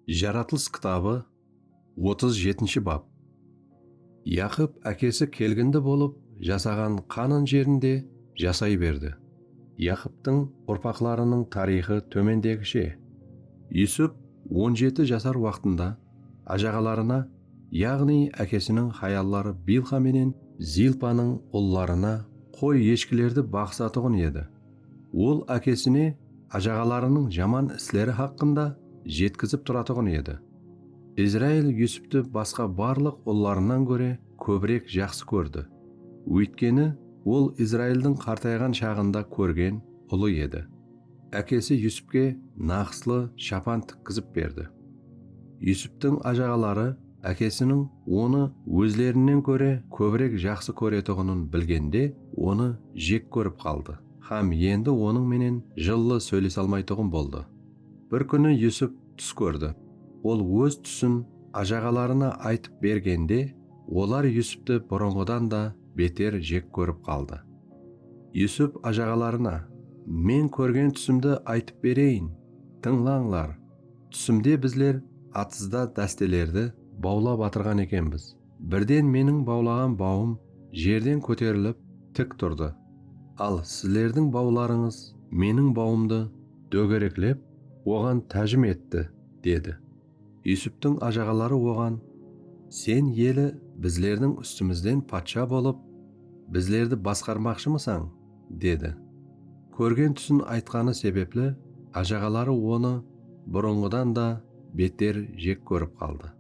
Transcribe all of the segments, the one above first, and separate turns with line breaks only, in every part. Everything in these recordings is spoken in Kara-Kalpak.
Jaratılıs kitabı otız jetinshi bap. Yaqıp ákesi kelgindi bolıp jasaǵan Qanan jerinde jasay berdi. Yaqıptıń urpaqlarınıń tariyxı tómendegishe. Yusup on jeti jasar waqtında ájaǵalarına, yaǵnıy ákesiniń hayalları Bilxa menen Zilpanıń ullarına qoy-eshkilerdi baǵısatuǵın edi. Ol ákesine ájaǵalarınıń jaman isleri haqqında jetkizip turatuǵın edi. Izrail Yusupti basqa barlıq ullarınan góre kóbirek jaqsı kórdi, óytkeni ol Izraildiń qartayǵan shaǵında kórgen ulı edi. Ákesi Yusupke naǵıslı shapan tikkizip berdi. Yusuptiń ájaǵaları Ákesiniń onı ózlerinnen kóre kóbirek jaqsı kóretuǵının bilgende onı jek kórip qaldı hám endi onıń menen jıllı sóylesalmaytuǵın boldı. Bir kúni Yusup tús kórdi. Ol óz túsin ájaǵalarına aytıp bergende olar Yusupti burınǵıdan da beter jek kórip qaldı. Yusup ájaǵalarına, Men kórgen túsimdi aytıp bereyin, tıńlańlar! Túsimde bizler atızda dástelerdi bawlap atırǵan ekenbiz. Birden meniń bawlaǵan bawım jerden kóterilip tik turdı. Al, sizlerdiń bawlarıńız meniń bawımdı dógereklep, oǵan tájim etti, dedi. Yusuptiń ajaǵaları oǵan, Sen eli bizlerdiń ústimizden patsha bolıp, bizlerdi basqarmaqshımısań? dedi. Kórgen túsin aytqanı sebepli ájaǵaları onı burınǵıdan da beter jek kórip qaldı.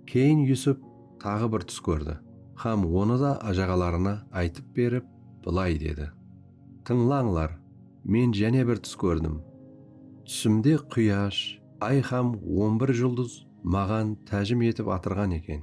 Keyin Yusup taǵı bir tús kórdi hám onı da ájaǵalarına aytıp berip bılay dedi, Tıńlańlar, men jáne bir tús kórdim. Túsimde quyash, ay hám on bir juldız maǵan tájim etip atırǵan eken.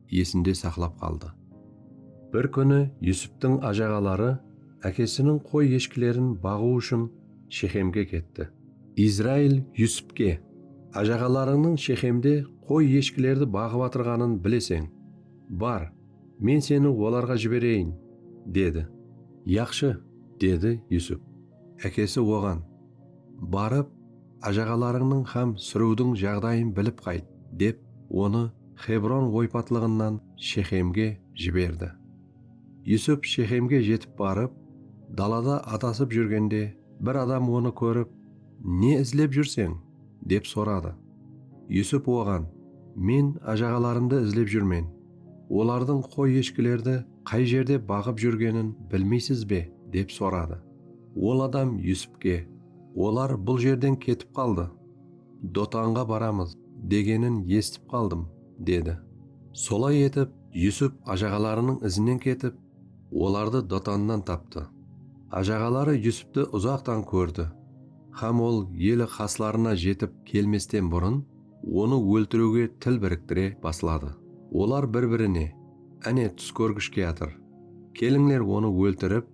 esinde saqlap qaldı. Bir kúni Yusuptıń ájaǵaları ákesiniń qoy-eshkilerin baǵıw ushın Shexemge ketti. Izrail Yusupke, Ájaǵalarıńnıń Shexemde qoy-eshkilerdi baǵıp atırǵanın bileseń. Bar, men seni olarǵa jibereyin, dedi. Yaqshı, dedi Yusup. Ákesi oǵan. Barıp, ájaǵalarıńnıń hám súriwdiń jaǵdayın bilip qayt, dep onı Xebron oypatlıǵınan Shexemge jiberdi. Yusup Shexemge jetip barıp, dalada adasıp júrgende bir adam onı kórip, Ne izlep júrseń? dep soradı. Yusup oǵan, Men ájaǵalarımdı izlep júrmen. Olardıń qoy-eshkilerdi qay jerde baǵıp júrgenin bilmeysiz be? dep soradı. Ol adam Yusupke, Olar bul jerden ketip qaldı. Dotanǵa baramız, degenin esitip qaldım, dedi. Solay etip, Yusup ajaǵalarınıń izinen ketip, olardı Dotannan taptı. Ajaǵaları Yusuptı uzaqtan kórdi hám ol eli qaslarına jetip kelmesten burın, onı óltiriwge til biriktire basladı. Olar bir-birine, Áne, tús kórgish kiyatır. Kelińler, onı óltirip,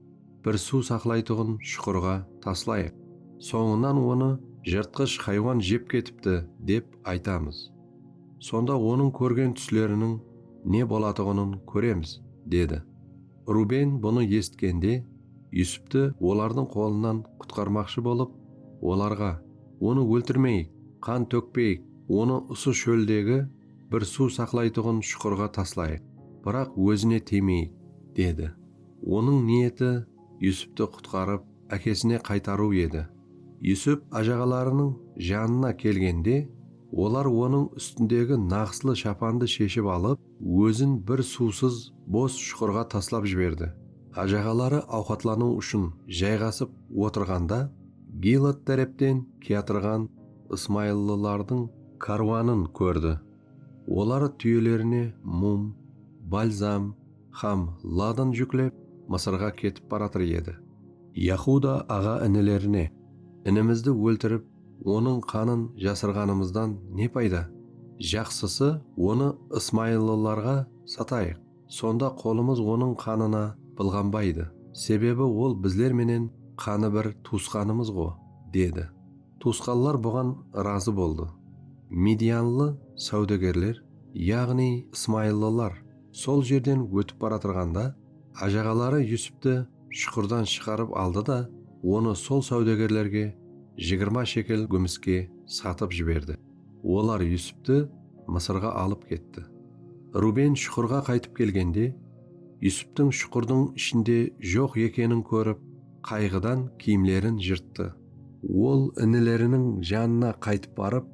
bir suw saqlaytuǵın shuqırǵa taslayıq. Sońınan onı jırtqısh haywan jep ketipti, dep aytamız. Sonda onıń kórgen túsleriniń ne bolatuǵının kóremiz, dedi. Ruben bunı esitkende, Yusuptı olardıń qolınan qutqarmaqshı bolıp, olarǵa, Onı óltirmeyik, qan tókpeyik, onı usı shóldegi bir suw saqlaytuǵın shuqırǵa taslayıq, biraq ózine tiymeyik, dedi. Onıń niyeti Yusuptı qutqarıp, ákesine qaytarıw edi. Yusup ájaǵalarınıń janına kelgende, olar onıń ústindegi naǵıslı shapandı sheship alıp, ózin bir suwsız, bos shuqırǵa taslap jiberdi. Ájaǵaları awqatlanıw ushın jayǵasıp otırǵanda, Gilad tárepten kiyatırǵan ısmayıllılardıń kárwanın kórdi. Olar túyelerine mum, balzam, hám Ladan júklep, Mısırǵa ketip baratır edi. Yahuda aǵa-inilerine, Inimizdi óltirip, onıń qanın jasırǵanımızdan ne payda? Jaqsısı, onı ısmayıllılarǵa satayıq, sonda qolımız onıń qanına bılǵanbaydı, sebebi ol bizler menen qanı bir tuwısqanımız-ǵo, dedi. Tuwısqanlar buǵan ırazı boldı. Midianlı sáwdagerler, yaǵnıy ısmayıllılar, Sol jerden ótip baratırǵanda, ájaǵaları Yusupti shuqırdan shıǵarıp aldı da, onı sol sáwdegerlerge jigirma shekel gúmiske satıp jiberdi. Olar Yusupti Mısırǵa alıp ketti. Ruben shuqırǵa qaytıp kelgende, Yusuptiń shuqırdıń ishinde joq ekenin kórip, qayǵıdan kiyimlerin jırttı. Ol inileriniń janına qaytıp barıp,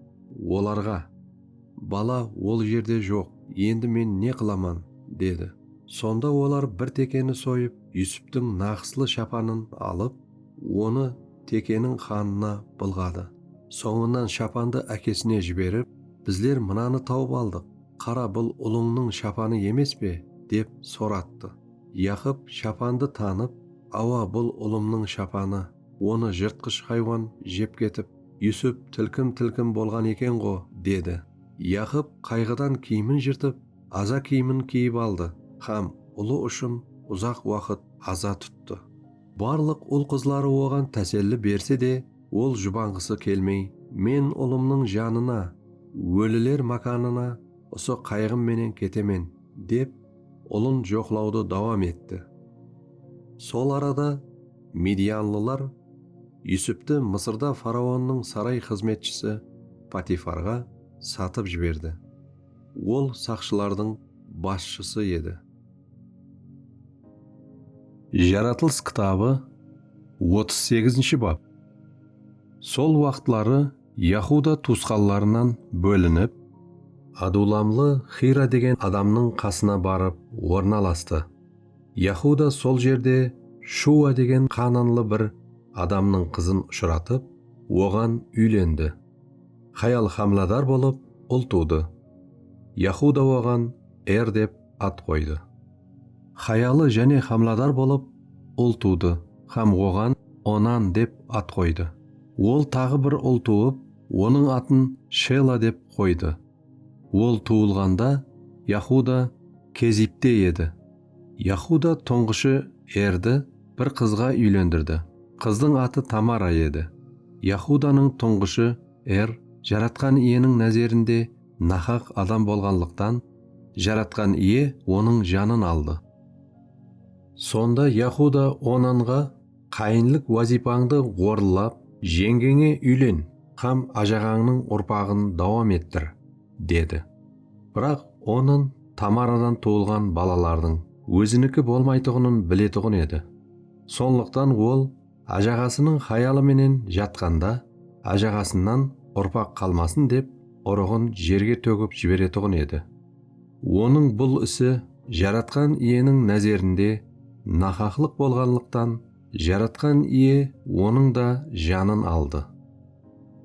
olarǵa. Bala ol jerde joq, endi men ne qılaman? dedi. Sonda olar bir tekeni soyıp, Yusuptıń naqıslı shapanın alıp, onı tekeniń qanına bılǵadı. Sońınan shapandı ákesine jiberip, Bizler mınanı tawıp aldıq, qara, bul ulıńnıń shapanı emes pe? dep sorattı. Yaqıp shapandı tanıp, Awa, bul ulımnıń shapanı, onı jırtqısh haywan jep ketip, Yusip tilkim-tilkim bolǵan eken-ǵo, dedi. Yaqıp qayǵıdan kiyimin jırtıp, aza kiyimin kiyip aldı hám ulı ushın uzaq waqıt aza tuttı. Barlıq ul-qızları oǵan táselli berse de, ol jubanǵısı kelmey, Men ulımnıń janına, óliler mákanına usı qayǵım menen ketemen, dep, ulın joqlawdı dawam etti. Sol arada. Midianlılar Yusuptı Mısırda faraonnıń saray xızmetshisi Potifarǵa satıp jiberdi. Ol saqshılardıń basshısı edi. Jaratılıs kitabı otız segizinshi bap Sol waqıtları Yahuda tuwısqanlarınan bólinip, adulamlı Xira degen adamnıń qasına barıp ornalastı. Yahuda sol jerde Shua degen qaananlı bir adamnıń qızın ushıratıp, oǵan úylendi. Hayal hámladar bolıp, ul tuwdı. Yahuda oǵan Er dep at qoydı. Hayalı jáne hámladar bolıp, ul tuwdı hám oǵan Onan dep at qoydı. Ol taǵı bir ul tuwıp, onıń atın Shela dep qoydı. Ol tuwılǵanda Yahuda Kezibte edi. Yahuda tuńǵıshı Erdi bir qızǵa úylendirdi. Qızdıń atı Tamara edi. Yahudanıń tuńǵıshı Er Jaratqan Iyeniń názerinde nahaq adam bolǵanlıqtan, Jaratqan Iye onıń janın aldı. Sonda Yahuda Onanǵa. Qayınlıq wazıypańdı orınlap, jeńgeńe úylen hám ájaǵańnıń urpaǵın dawam ettir, dedi. Biraq onın Tamaradan tuwılǵan balalardıń óziniki bolmaytuǵının biletuǵın edi. Sonlıqtan ol ájaǵasınıń hayalı menen jatqanda ájaǵasınan urpaq qalmasın dep urıǵın jerge tógip jiberetuǵın edi. Onıń bul isi Jaratqan Iyeniń názerinde nahaqlıq bolǵanlıqtan, Jaratqan Iye onıń da janın aldı.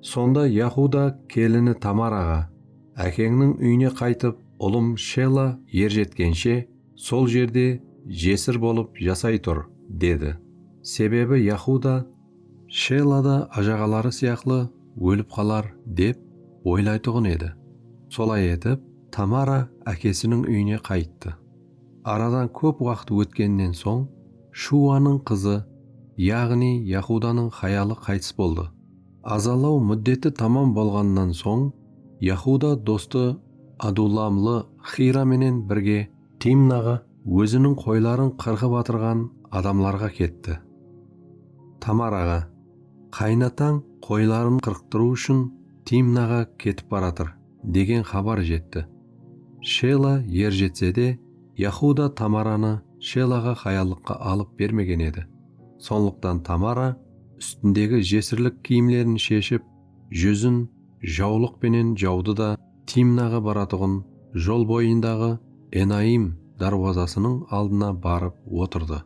Sonda Yahuda kelini Tamaraǵa, Ákeńniń úyine qaytıp, ulım Shela er jetkenshe, sol jerde jesir bolıp jasay tur, dedi. Sebebi Yahuda Shella da ájaǵaları sıyaqlı ólip qalar dep oylaytuǵın edi. Solay etip, Tamara ákesiniń úyine qayttı. Aradan kóp waqıt ótkennen soń Shuwanıń qızı, yaǵnıy Yahudanıń hayalı qaytıs boldı. Azalaw múddeti tamam bolǵannan soń Yahuda dostı adullamlı Xira menen birge Timnaǵa óziniń qoyların qırǵıp atırǵan adamlarǵa ketti. Tamaraǵa, Qaynatań qoyların qırqtırıw ushın Timnaǵa ketip baratır, degen xabar jetti. Shela erjetse de, Yahuda Tamaranı Shelaǵa hayallıqqa alıp bermegen edi. Sonlıqtan Tamara ústindegi jesirlik kiyimlerin sheship, júzin jawlıq penen jawdı da Timnaǵa baratuǵın jol boyındaǵı Enaim dárwazasınıń aldına barıp otırdı.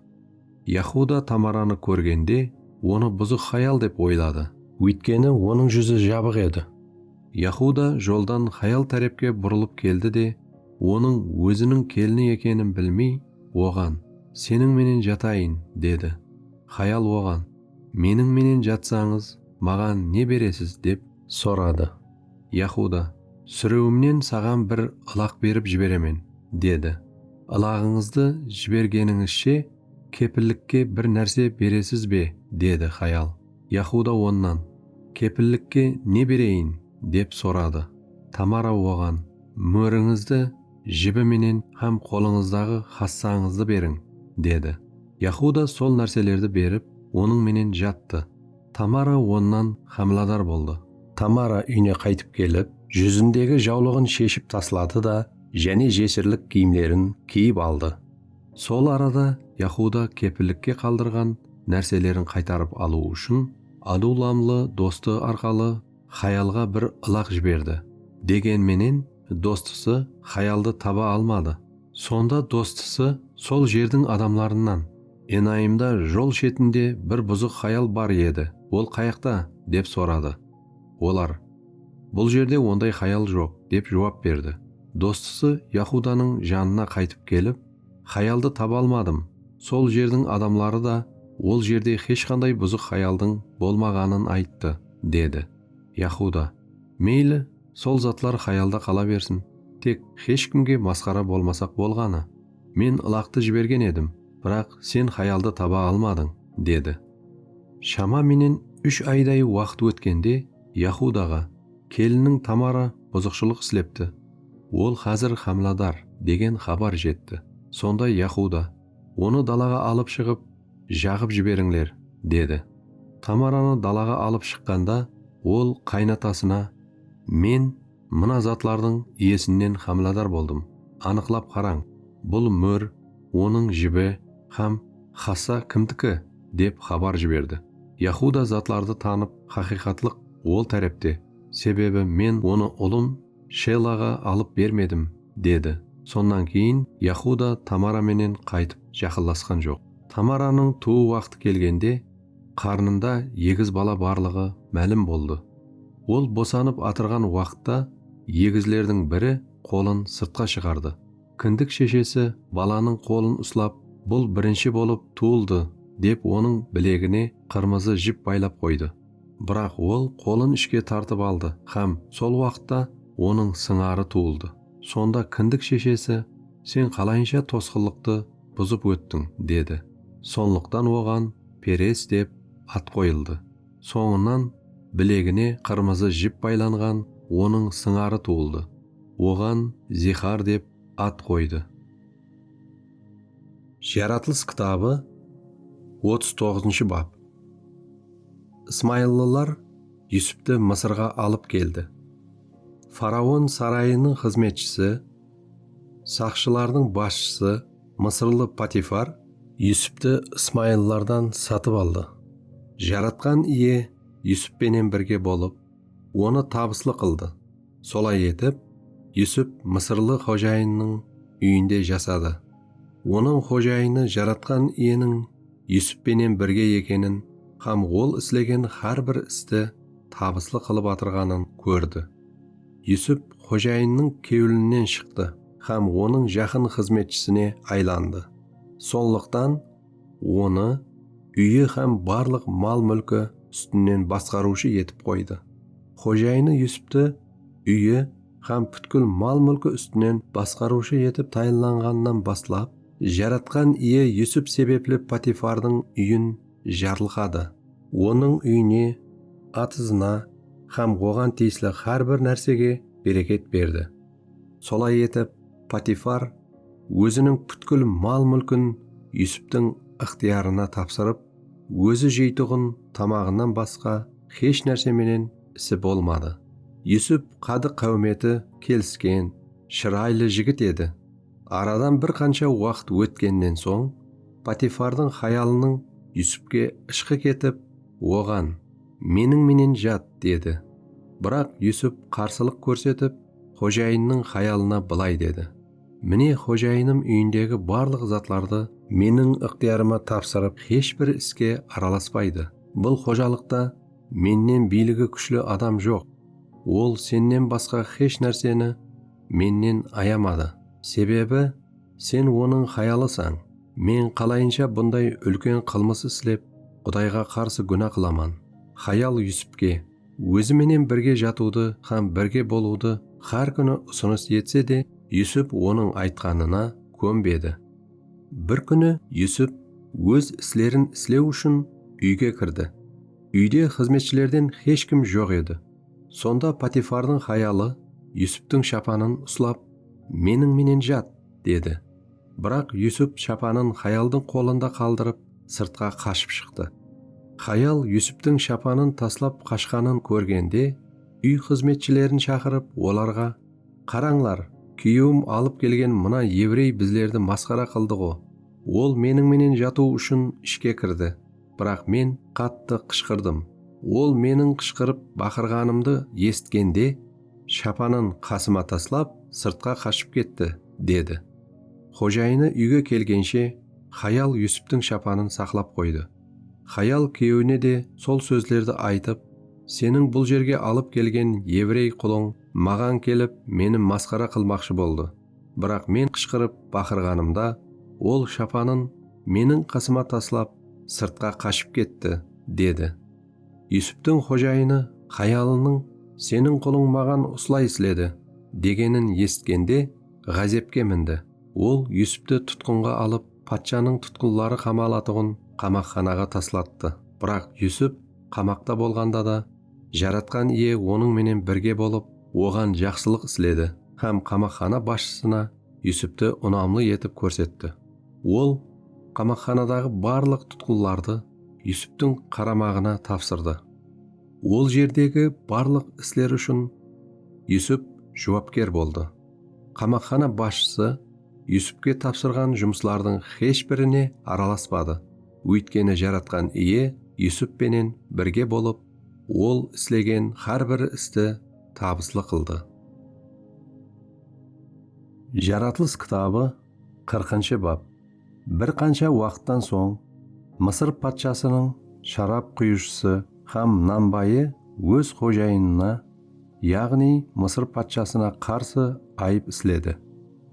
Yahuda Tamaranı kórgende, onı buzıq hayal dep oyladı. Óytkeni onıń júzi jabıq edi. Yahuda joldan hayal tárepke burılıp keldi de, onıń óziniń kelini ekenin bilmey, oǵan, Seniń menen jatayın, dedi. Hayal oǵan, Meniń menen jatsańız, maǵan ne beresiz? dep Soradı. Yahuda, Súrewimnen saǵan bir ılaq berip jiberemen, dedi. Ilaǵıńızdı jibergenińizshe kepillikke bir nárse beresiz be? dedi hayal. Yahuda onnan, Kepillikke ne bereyin? dep soradı. Tamara oǵan, Mórińizdi, jibi menen hám qolıńızdaǵı hassańızdı beriń, dedi. Yahuda sol nárselerdi berip, onıń menen jattı. Tamara onnan hámiladar boldı. Tamara úyine qaytıp kelip, júzindegi jawlıǵın sheship tasladı da, jáne jesirlik kiyimlerin kiyip aldı. Sol arada Yahuda kepillikke qaldırǵan nárselerin qaytarıp alıw ushın adullamlı dostı arqalı xayalǵa bir ılaq jiberdi, degen menen, Dostısı xayaldı taba almadı. Sonda dostısı sol jerdiń adamlarınan. Enayımda jol shetinde bir buzıq xayal bar edi, ol qayaqta? dep soradı. Olar, Bul jerde onday xayal joq, dep juwap berdi. Dostısı Yahudanıń janına qaytıp kelip, Xayaldı taba almadım, sol jerdiń adamları da ol jerde xesh qanday buzıq xayaldıń bolmaǵanın ayttı, dedi. Yahuda, Meyli. Sol zatlar xayalda qala bersin, tek xesh kimge masqara bolmasaq bolǵanı. Men ılaqtı jibergen edim, biraq sen xayaldı taba almadıń, dedi. Shama menen úsh ayday waqıt ótkende Yahudaǵa, Kelinniń Tamara buzıqshılıq islepti, ol xázir xámiladar, degen xabar jetti. Sonda Yahuda, Onı dalaǵa alıp shıǵıp, Jaǵıp jiberińler, dedi. Tamaranı dalaǵa alıp shıqqanda, ol qaynatasına, Men mına zatlardıń iyesinnen xámiladar boldım. Anıqlap qarań, bul mór, onıń jibi hám xassa kimdiki? dep xabar jiberdi. Yahuda zatlardı tanıp, Haqıyqatlıq ol tárepte, sebebi men onı ulım Shelaǵa alıp bermedim, dedi. Sonnan keyin Yahuda Tamara menen qaytıp jaqınlasqan joq. Tamaranıń tuwıw waqtı kelgende, qarnında egiz bala barlıǵı málim boldı. Ol bosanıp atırǵan waqıtta egizlerdiń biri qolın sırtqa shıǵardı. Kindik sheshesi balanıń qolın uslap, Bul birinshi bolıp tuwıldı, dep onıń bilegine qırmızı jip baylap qoydı. Biraq ol qolın ishke tartıp aldı hám sol waqıtta onıń sıńarı tuwıldı. Sonda kindik sheshesi, Sen qalayınsha tosqınlıqtı buzıp óttiń? dedi. Sonlıqtan oǵan Perez dep at qoyıldı. Sońınan bilegine qırmızı jip baylanǵan onıń sıńarı tuwıldı. Oǵan Zixar dep at qoydı. Jaratılıs kitabı otız toǵızınshı bap Ismayıllılar Yusupti Mısırǵa alıp keldi. Faraon sarayınıń xızmetshisi, saqshılardıń basshısı mısırlı Patifar, Yusupti ismayıllılardan satıp aldı Jaratqan Iye Yusup penen birge bolıp onı tabıslı qıldı. Solay etip, Yusup mısırlı xojayınnıń úyinde jasadı. Onıń xojayını Jaratqan Iyeniń Yusup penen birge ekenin hám ol islegen hár bir isti tabıslı qılıp atırǵanın kórdi. Yusup xojayınnıń kewlinen shıqtı hám onıń jaqın xızmetshısine aylandı. Sonlıqtan onı úyi hám barlıq mal-múlki ústinen basqarıwshı etip qoydı. Xojayını Yusuptı úyi hám pútkil mal-múlki ústinen basqarıwshı etip tayınlanǵanınan baslap, Jaratqan Iye Yusup sebepli Potifardıń úyin jarlıqadı. Onıń úyine, atızına hám oǵan tiyisli hár bir nársege bereket berdi. Solay etip, Patifar óziniń pútkil mal-múlkin Yusuptiń ıqtıyarına tapsırıp, ózi jeytuǵın tamaǵınan basqa xesh nárse menen isi bolmadı. Yusup qadı-qáwmeti kelisken, shıraylı jigit edi. Aradan bir qansha waqıt ótkennen soń, Patifardıń hayalınıń Yusupke ıshqı ketip, oǵan. Meniń menen jat, dedi. Biraq Yusup qarsılıq kórsetip, xojayınnıń hayalına bılay dedi, Mine, xojayınım úyindegi barlıq zatlardı meniń ıqtıyarıma tapsırıp, hesh bir iske aralaspaydı. Bul xojalıqta mennen biyligi kúshli adam joq. Ol sennen basqa hesh nárseni mennen ayamadı. Sebebi. Sen onıń xayalısań. Men qalayınsha bunday úlken qılmıs islep, Qudayǵa qarsı gúna qılaman? Xayal Yusupke, ózi menen birge jatıwdı hám birge bolıwdı hár kúni usınıs etse de, Yusup onıń aytqanına kónbedi. Bir kúni Yusup óz islerin islew ushın úyge kirdi. Úyde xızmetshilerden hesh kim joq edi. Sonda Potifardıń hayalı Yusuptıń shapanın uslap, Meniń menen jat! dedi. Biraq Yusup shapanın hayaldıń qolında qaldırıp, sırtqa qashıp shıqtı. Hayal Yusuptıń shapanın taslap qashqanın kórgende, úy xızmetshilerin shaqırıp, olarǵa, Qarańlar, kúyewim alıp kelgen mına evrey bizlerdi masqara qıldı-ǵo! Ol meniń menen jatıw ushın ishke kirdi, biraq men qattı qıshqırdım. Ol meniń qıshqırıp baqırǵanımdı esitkende, shapanın qasıma taslap, sırtqa qashıp ketti, dedi. Xojayını úyge kelgenshe, xayal Yusuptıń shapanın saqlap qoydı. Xayal kúyewine de sol sózlerdi aytıp, Seniń bul jerge alıp kelgen evrey qulıń maǵan kelip, meni masqara qılmaqshı boldı. Biraq men qıshqırıp baqırǵanımda, ol shapanın meniń qasıma taslap, sırtqa qashıp ketti, dedi. Yusuptıń xojayını hayalınıń Seniń qulıń maǵan usılay isledi, degenin esitkende, ǵázepke mindi. Ol Yusuptı tutqınǵa alıp, patshanıń tutqınları qamalatuǵın qamaqxanaǵa taslattı. Biraq Yusup qamaqta bolǵanda da, Jaratqan Iye onıń menen birge bolıp, oǵan jaqsılıq isledi hám qamaqxana basshısına Yusupti unamlı etip kórsetti. Ol qamaqxanadaǵı barlıq tutqınlardı Yusuptiń qaramaǵına tapsırdı. Ol jerdegi barlıq isler ushın Yusup juwapker boldı. Qamaqxana basshısı Yusupke tapsırǵan jumıslardıń hesh birine aralaspadı Óytkeni Jaratqan Iye Yusup penen birge bolıp, ol islegen hár bir isti tabıslı qıldı. Jaratılıs kitabı qırqınshı bap Bir qansha waqıttan soń, Mısır patshasınıń sharap quyıwshısı hám nanbayı óz xojayınına yaǵnıy Mısır patshasına qarsı ayıp isledi.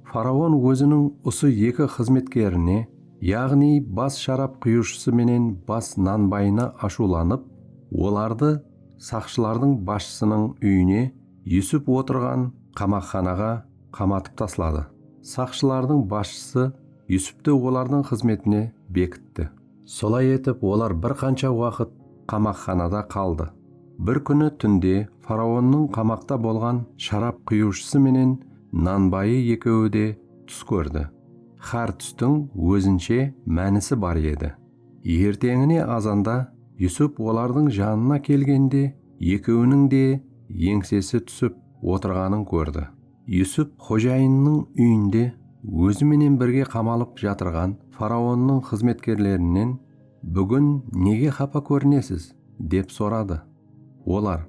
Faraon óziniń usı eki xızmetkerine, yaǵnıy bas sharap quyıwshısı menen bas nanbayına ashıwlanıp, olardı saqshılardıń basshısınıń úyine, Yusup otırǵan qamaqxanaǵa qamatıp tasladı. Saqshılardıń basshısı Yusuptı olardıń xızmetine bekitti. Solay etip, olar bir qansha waqıt qamaqxanada qaldı. Bir kúni túnde faraonnıń qamaqta bolǵan sharap quyıwshısı menen nan bayı ekewi de tús kórdi. Xár tústiń ózinshe mánisi bar edi. Erteńine azanda Yusup olardıń janına kelgende, ekewiniń de eńsesi túsip otırǵanın kórdi. Yusup xojayınınıń úyinde ózi menen birge qamalıp jatırǵan faraonnıń xızmetkerlerinen, Búgin nege xapa kórinesiz? dep soradı. Olar,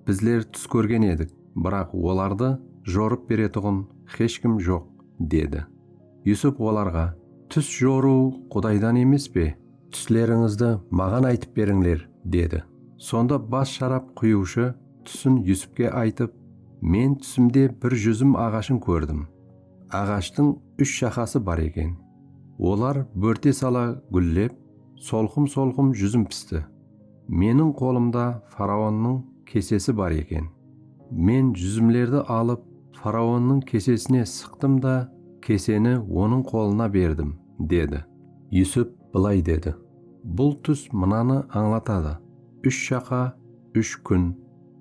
Bizler tús kórgen edik, biraq olardı jorıp beretuǵın xesh kim joq, dedi. Yusup olarǵa, Tús jorıw Qudaydan emes pe? Túslerińizdi maǵan aytıp berińler, dedi. Sonda bas sharap quyıwshı túsin Yusupke aytıp, Men túsimde bir júzim aǵashın kórdim. Aǵashtıń úsh shaqası bar eken. Olar bórte sala gúllep, solqım-solqım júzim pisti. Meniń qolımda faraonnıń kesesi bar eken. Men júzimlerdi alıp, faraonnıń kesesine sıqtım da, keseni onıń qolına berdim. dedi. Yusip bılay dedi, Bul tús mınanı ańlatadı, Úsh jaqa, úsh kún,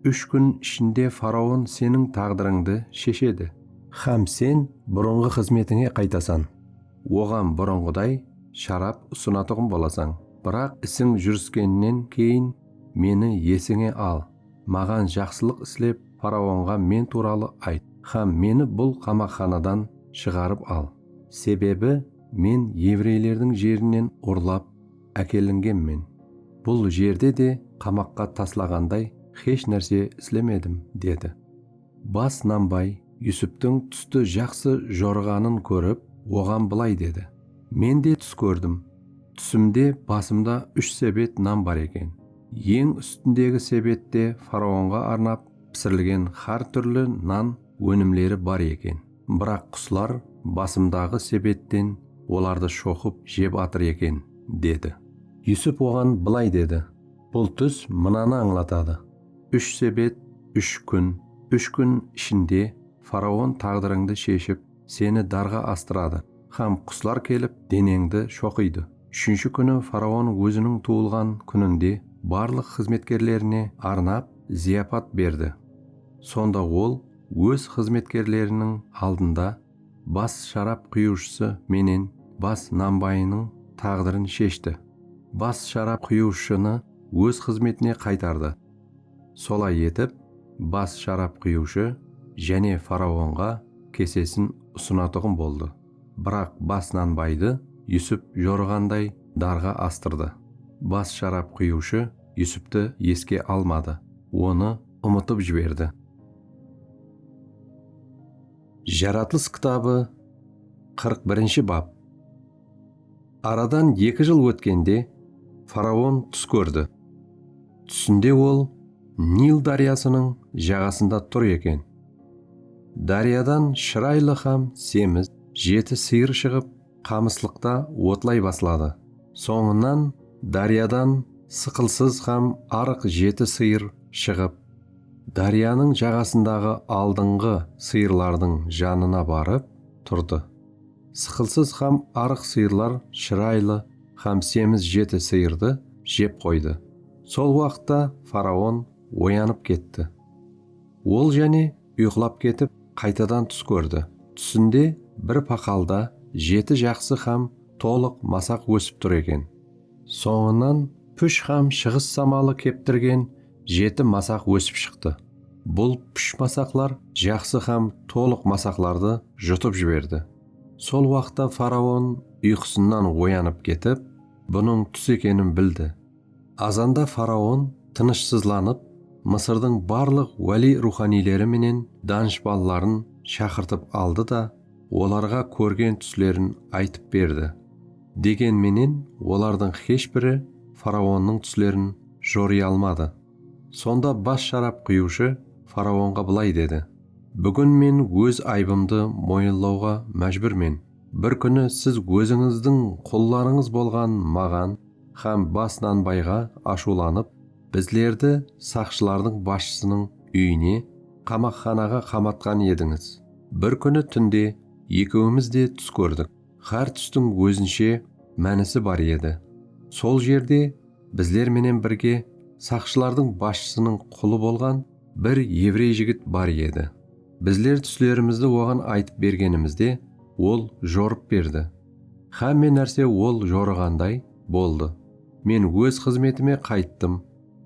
úsh kún ishinde faraon seniń táǵdirińdi sheshedi. Hám sen burınǵı xızmetińe qaytasan, oǵan burınǵıday sharap usınatuǵın bolasań. Biraq isiń júriskennen keyin meni esińe al, maǵan jaqsılıq islep, faraonǵa men tuwralı ayt hám meni bul qamaqxanadan shıǵarıp al. Sebebi Men evreylerdiń jerinen urlap ákelingenmen, bul jerde de qamaqqa taslaǵanday xesh nárse islemedim, dedi. Bas nambay Yusuptiń tústi jaqsı jorıǵanın kórip, oǵan bılay dedi, Men de tús kórdim. Túsimde basımda úsh sebet nan bar eken. Eń ústindegi sebette faraonǵa arnap pisirilgen xár túrli nan ónimleri bar eken. Biraq quslar basımdaǵı sebetten olardı shoqıp jep atır eken, dedi. Yusuf oǵan bılay dedi, Bul tús mınanı ańlatadı, Úsh sebet, úsh kún, úsh kún ishinde faraon taǵdırıńdı sheship, seni darǵa astıradı hám quslar kelip, deneńdi shoqıydı. Úshinshi kúni faraon óziniń tuwılǵan kúninde barlıq xızmetkerlerine arnap, zıyapat berdi. Sonda ol. Óz xızmetkerleriniń aldında bas sharap quyıwshısı menen bas nambayınıń taǵdırın sheshti. Bas sharap quyıwshını óz xızmetine qaytardı. Solay etip, bas sharap quyıwshı jáne faraonǵa kesesin usınatuǵın boldı. Biraq bas nanbaydı Yusup jorıǵanday darǵa astırdı. Bas sharap quyıwshı Yusuptı eske almadı, onı. umıtıp jiberdi. Jaratılıs kitabı qırq birinshi bap Aradan eki jıl ótkende faraon tús kórdi. Túsinde ol Nil dáryasınıń jaǵasında tur eken. Dáryadan shıraylı hám semiz jeti sıyır shıǵıp, qamıslıqta otlay basladı. Sońınan dáryadan sıqılsız hám arıq jeti sıyır shıǵıp, dáryanıń jaǵasındaǵı aldıńǵı sıyırlardıń janına barıp turdı. Sıqılsız hám arıq sıyırlar shıraylı hám semiz jeti sıyırdı jep qoydı. Sol waqıtta faraon oyanıp ketti. Ol jáne uyqılap ketip, qaytadan tús kórdi. Túsinde bir paqalda jeti jaqsı hám tolıq masaq ósip tur eken. Sońınan púsh hám shıǵıs samalı keptirgen jeti masaq ósip shıqtı. Bul púsh masaqlar jaqsı hám tolıq masaqlardı jutıp jiberdi. Sol waqıtta faraon uyqısınan oyanıp ketip, bunıń tús ekenin bildi. Azanda faraon tınıshsızlanıp, Mısırdıń barlıq wáliy ruwxaniyleri menen danıshpanların shaqırtıp aldı da, olarǵa kórgen túslerin aytıp berdi. Degen menen, olardıń xesh biri faraonnıń túslerin jorıy almadı. Sonda bas sharap quyıwshı faraonǵa bılay dedi, Búgin men óz aybımdı moyınlawǵa májbúrmen. Bir kúni siz ózińizdiń qullarıńız bolǵan maǵan, Hám bas nanbayǵa ashıwlanıp, bizlerdi saqshılardıń basshısınıń úyine, qamaqxanaǵa qamatqan edińiz. Bir kúni túnde ekewimiz de tús kórdik. Hár tústiń ózinshe mánisi bar edi. Sol jerde bizler menen birge saqshılardıń basshısınıń qulı bolǵan bir evrey jigit bar edi. Bizler túslerimizdi oǵan aytıp bergenimizde, ol jorıp berdi. Xámme nárse ol jorıǵanday boldı. Men óz xızmetime qayttım,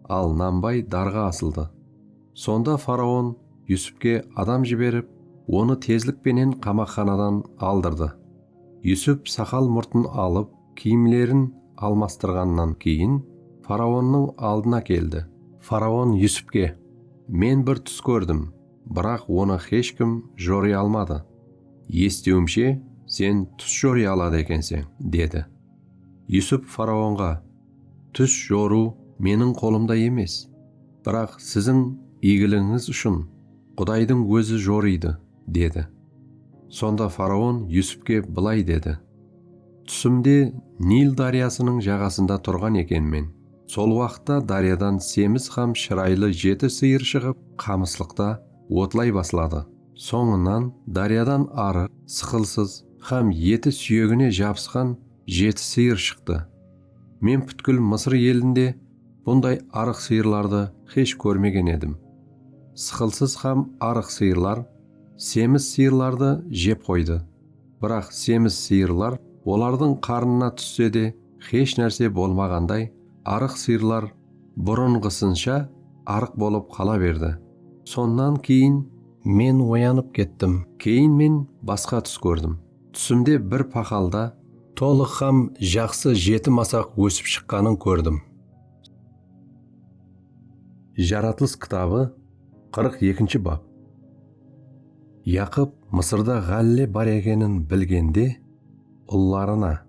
al Nambay darǵa asıldı. Sonda faraon Yusupke adam jiberip, onı tezlik penen qamaqxanadan aldırdı. Yusup saqal-murtın alıp, kiyimlerin almastırǵannan keyin faraonnıń aldına keldi. Faraon Yusupke, Men bir tús kórdim. biraq onı xesh kim joriy almadı. Esitiwimshe, sen tús joriy aladı ekenseń, dedi. Yusup faraonǵa, Tús jorıw meniń qolımda emes, biraq siziń iygiliǵińiz ushın Qudaydıń ózi jorıydı, dedi. Sonda faraon Yusupke bılay dedi, Túsimde Nil dáryasınıń jaǵasında turǵan ekenmen. Sol waqıtta dáryadan semiz hám shıraylı jeti sıyır shıǵıp, qamıslıqta otlay basladı. Sońınan dáryadan arıq, sıqılsız hám eti súyegine jabısqan jeti sıyır shıqtı. Men pútkil Mısır elinde bunday arıq sıyırlardı xesh kórmegen edim. Sıqılsız hám arıq sıyırlar semiz sıyırlardı jep qoydı. Biraq semiz sıyırlar olardıń qarnına tússe de, Xesh nárse bolmaǵanday arıq sıyırlar burınǵısınsha arıq bolıp qala berdi. Sonnan keyin men oyanıp kettim. Keyin men basqa tús kórdim. Túsimde bir paqalda. Tolıq hám jaqsı jeti masaq ósip shıqqanın kórdim. Jaratılıs kitabı qırq ekinshi bap. Yaqıp Mısırda ǵálle bar ekenin bilgende, ullarına.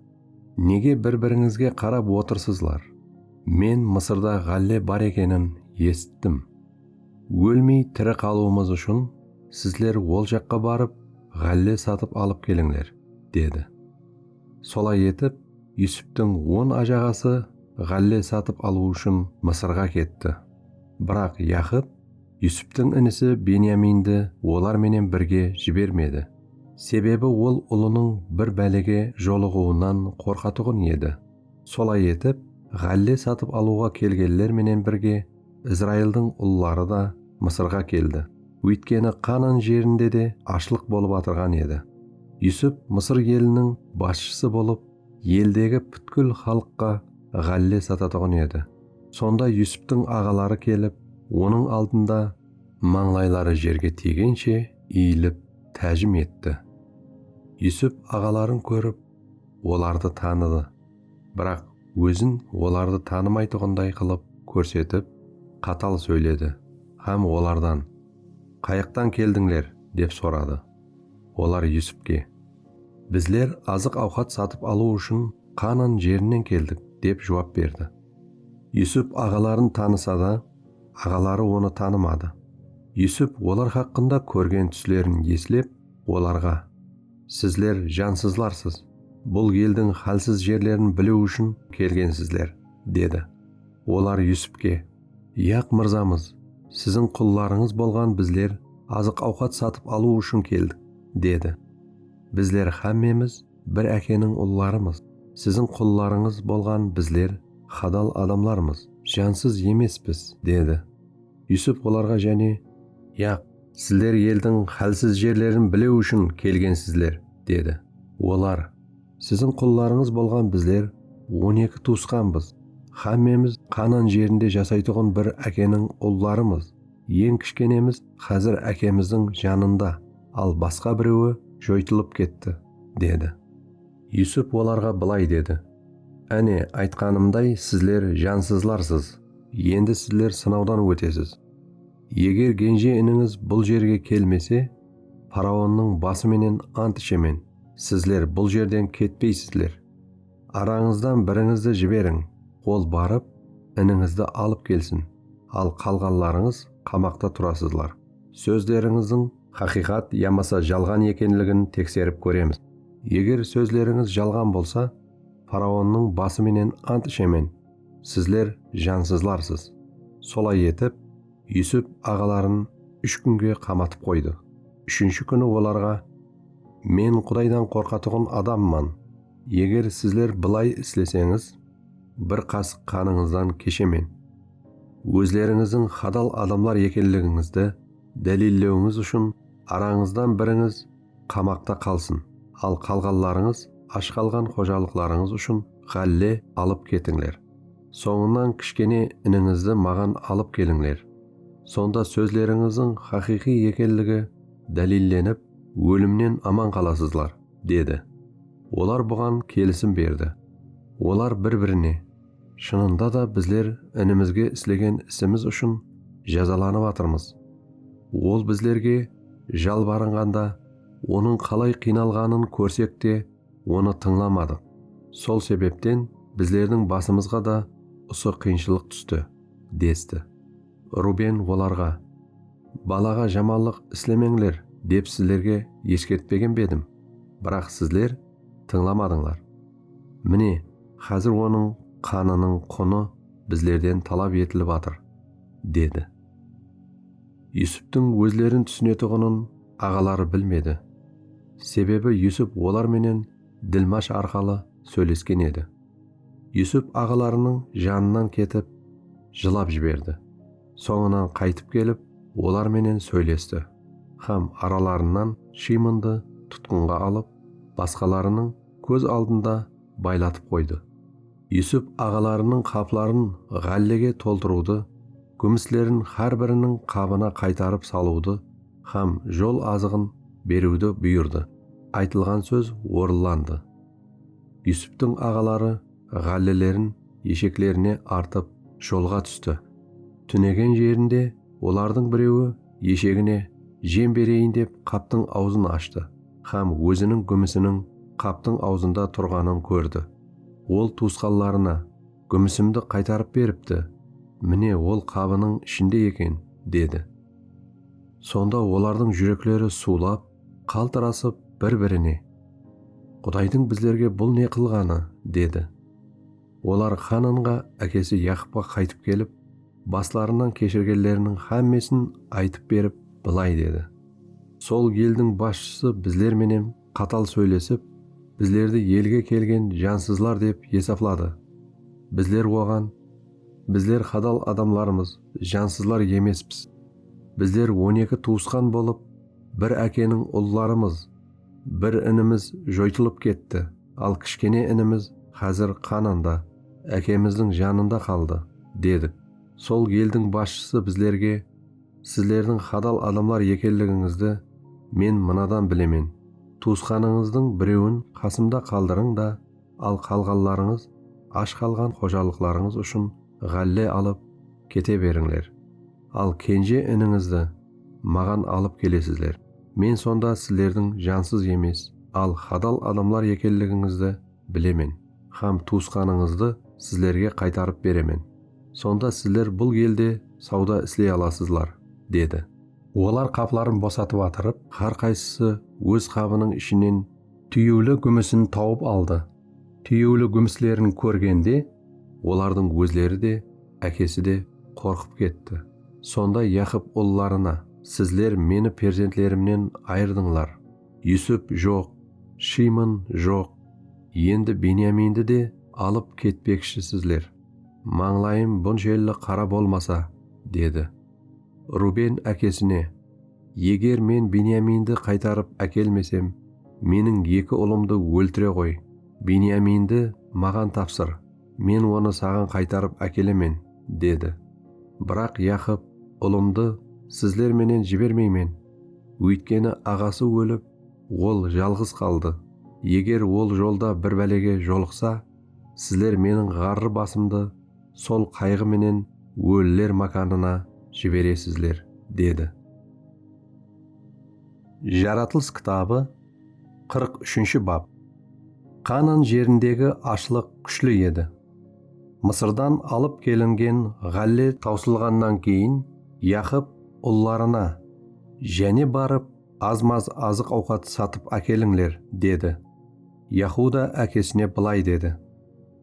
Nege bir-birińizge qarap otırsızlar? Men Mısırda ǵálle bar ekenin esittim. Ólmey tiri qalıwımız ushın sizler ol jaqqa barıp, ǵálle satıp alıp kelińler, dedi. Solay etip, Yusuptıń on ajaǵası ǵálle satıp alıw ushın Mısırǵa ketti. Biraq Yaqıp Yusuptıń inisi Benyamindi olar menen birge jibermedi, sebebi ol ulınıń bir bálege jolıǵıwınan qorqatuǵın edi. Solay etip, ǵálle satıp alıwǵa kelgenler menen birge Izraildıń ulları da Mısırǵa keldi, óytkeni Qanan jerinde de ashlıq bolıp atırǵan edi. Yusup Mısır eliniń basshısı bolıp Eldegi pútkil xalıqqa ǵálle satatuǵın edi. Sonda Yusuptıń aǵaları kelip, onıń aldında mańlayları jerge tiygenshe iyilip tájim etti. Yusup aǵaların kórip, olardı tanıdı, biraq ózin olardı tanımaytuǵınday qılıp kórsetip, qatal sóyledi hám olardan, Qayıqtan keldińler? dep soradı. Olar Yusupke, Bizler azıq-awqat satıp alıw ushın Qaanan jerinen keldik, dep juwap berdi. Yusup aǵaların tanısa da, aǵaları onı tanımadı. Yusup olar haqqında kórgen túslerin eslep, olarǵa, Sizler jansızlarsız, bul eldiń hálsiz jerlerin biliw ushın kelgensizler, dedi. Olar Yusupke. Yaq mırzamız, siziń qullarıńız bolǵan bizler azıq-awqat satıp alıw ushın keldik, dedi. Bizler hámmemiz bir ákeniń ullarımız, siziń qullarıńız bolǵan bizler hadal adamlarmız, jansız emespiz, dedi. Yusup olarǵa jáne. Yaq, sizler eldiń hálsiz jerlerin bilew ushın kelgensizler, dedi. Olar. Siziń qullarıńız bolǵan bizler on eki tuwısqanbız, xámmemiz Qanan jerinde jasaytuǵın bir ákeniń ullarımız, eń kishkenemiz xázir ákemizdiń janında, al basqa birewi joytılıp ketti, dedi. Yusup olarǵa bılay dedi, Áne, aytqanımday sizler jansızlarsız, endi sizler sınawdan ótesiz. Eger genje inińiz bul jerge kelmese, Faraonnıń bası menen ant ishemen, sizler bul jerden ketpeysizler. Arańızdan birińizdi jiberiń, ol barıp, inińizdi alıp kelsin, al qalǵanlarıńız qamaqta turasızlar, sózlerińizdiń, haqıyqat yamasa jalǵan ekenligin tekserip kóremiz, eger sózlerińiz jalǵan bolsa, faraonnıń bası menen ant ishemen, sizler jansızlarsız. Solay etip, Yusuf aǵaların úsh kúnge qamatıp qoydı. Úshinshi kúni olarǵa, Men Qudaydan qorqatuǵın adamman. Eger sizler bılay isleseńiz, bir qasıq qanıńızdan keshemen. Ózlerińizdiń hadal adamlar ekenligińizdi dálillewińiz ushın arańızdan birińiz qamaqta qalsın, al qalǵanlarıńız ash qalǵan xojalıqlarıńız ushın ǵálle alıp ketińler. Sońınan kishkene inińizdi maǵan alıp kelińler. Sonda sózlerińizdiń haqıyqıy ekenligi dálillenip, ólimnen aman qalasızlar, dedi. Olar buǵan kelisim berdi. Olar bir-birine, Shınında da bizler inimizge islegen isimiz ushın jazalanıp atırmız. Ol bizlerge jalbarınǵanda, onıń qalay qıynalǵanın kórsek te, Onı tıńlamadıq. Sol sebepten bizlerdiń basımızǵa da usı qıyınshılıq tústi, desti. Ruben olarǵa, Balaǵa jamanlıq islemeńler, dep sizlerge eskertpegen be edim? Biraq sizler tıńlamadıńlar. Mine, xázir onıń qanınıń qunı bizlerden talap etilip atır, dedi. Yusuptıń ózlerin túsinetuǵının Aǵaları bilmedi. Sebebi Yusup olar menen dilmash arqalı sóylesken edi. Yusup aǵalarınıń janınan ketip, jılap jiberdi. Sońınan qaytıp kelip, olar menen sóylesti hám aralarınan Shıymondı tutqınǵa alıp, basqalarınıń kóz aldında baylatıp qoydı. Yusup aǵalarınıń qapların ǵállege toltırıwdı, gúmislerin hár biriniń qabına qaytarıp salıwdı hám jol azıǵın beriwdi buyırdı, aytılǵan sóz orınlandı. Yusuptıń aǵaları ǵállelerin esheklerine artıp jolǵa tústi. Túnegen jerinde olardıń birewi eshegine jem bereyin dep qaptıń awzın ashtı hám óziniń gúmisiniń qaptıń awzında turǵanın kórdi. Ol tuwısqanlarına, Gúmisimdi qaytarıp beripti, mine, ol qabınıń ishinde eken, dedi. Sonda olardıń júrekleri suwlap, qaltırasıp, bir-birine, Qudaydıń bizlerge bul ne qılǵanı? dedi. Olar Xananǵa ákesi Yaqıpqa qaytıp kelip, baslarınan keshirgenleriniń hámmesin aytıp berip, bılay dedi, Sol eldiń basshısı bizler menen Qatal sóylesip, bizlerdi elge kelgen jansızlar dep esapladı. Bizler oǵan, Bizler hadal adamlarmız, jansızlar emespis. Bizler on eki tuwısqan bolıp, bir ákeniń ullarımız. Bir inimiz joytılıp ketti, al kishkene inimiz házir qanında, ákemizdiń janında qaldı, dedik. Sol eldiń basshısı bizlerge. Sizlerdiń hadal adamlar ekenligińizdi men mınadan bilemen, tuwısqanıńızdıń birewin qasımda qaldırıń da, al qalǵanlarıńız ash qalǵan xojalıqlarıńız ushın ǵálle alıp kete berińler. Al kenje inińizdi maǵan alıp kelesizler, men sonda sizlerdiń jansız emes, al hadal adamlar ekenligińizdi bilemen hám tuwısqanıńızdı sizlerge qaytarıp beremen. Sonda sizler bul elde sawda isley alasızlar, dedi. Olar qapların bosatıp atırıp, hár qaysısı óz qabınıń ishinen túyewli gúmisin tawıp aldı. Túyewli gúmislerin kórgende, olardıń ózleri de, ákesi de qorqıp ketti. Sonda Yaqıp ullarına, Sizler meni perzentlerimnen ayırdıńlar. Yusip joq, Shimon joq, endi Benyamindi de alıp ketpekshisizler. Mańlayım bunshelli qara bolmasa, dedi. Ruben ákesine, Eger men Benyamindi qaytarıp ákelmesem, meniń eki ulımdı óltire ǵoy, Benyamindi maǵan tapsır, men onı saǵan qaytarıp ákelemen, dedi. Biraq Yaqıp, Ulımdı sizler menen jibermeymen, óytkeni aǵası ólip, ol jalǵız qaldı, eger ol jolda bir bálege jolıqsa, Sizler Meniń ǵarrı basımdı sol qayǵı menen óliler mákanına jiberesizler, dedi. Jaratılıs kitabı qırq úshinshi bap Qaanan jerindegi ashlıq kúshli edi. Mısırdan alıp kelingen ǵálle tawsılǵannan keyin Yaqıp ullarına, Jáne barıp, az-maz azıq-awqat satıp ákelińler, dedi. Yahuda ákesine bılay dedi,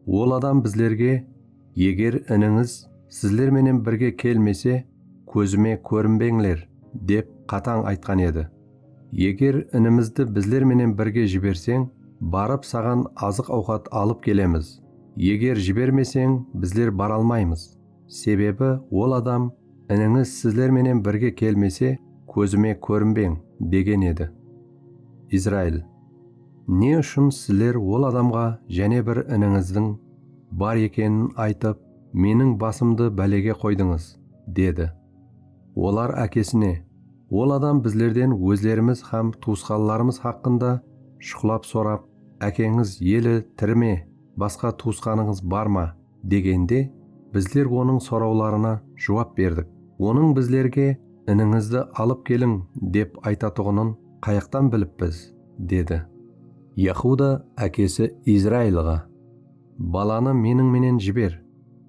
Ol adam bizlerge, Eger inińiz sizler menen birge kelmese, kózime kórinbeńler, dep qatań aytqan edi. Eger inimizdi bizler menen birge jiberseń, barıp saǵan azıq-awqat alıp kelemiz, eger jibermeseń, bizler bara almaymız. Sebebi ol adam, Inińiz sizler menen birge kelmese, kózime kórinbeń, degen edi. Izrail. Ne ushın sizler ol adamǵa jáne bir inińizdiń bar ekenin aytıp, meniń basımdı bálege qoydıńız? dedi. Olar ákesine, Ol adam bizlerden ózlerimiz hám tuwısqanlarımız haqqında shuqlap sorap, Ákeńiz, Eli, tiri me, basqa tuwısqanıńız bar ma? Degende, bizler onıń sorawlarına juwap berdik. Onıń bizlerge Inińizdi alıp keliń dep aytatuǵının qayaqtan bilip biz? dedi. Yahuda ákesi Izrailǵa, Balanı meniń menen jiber,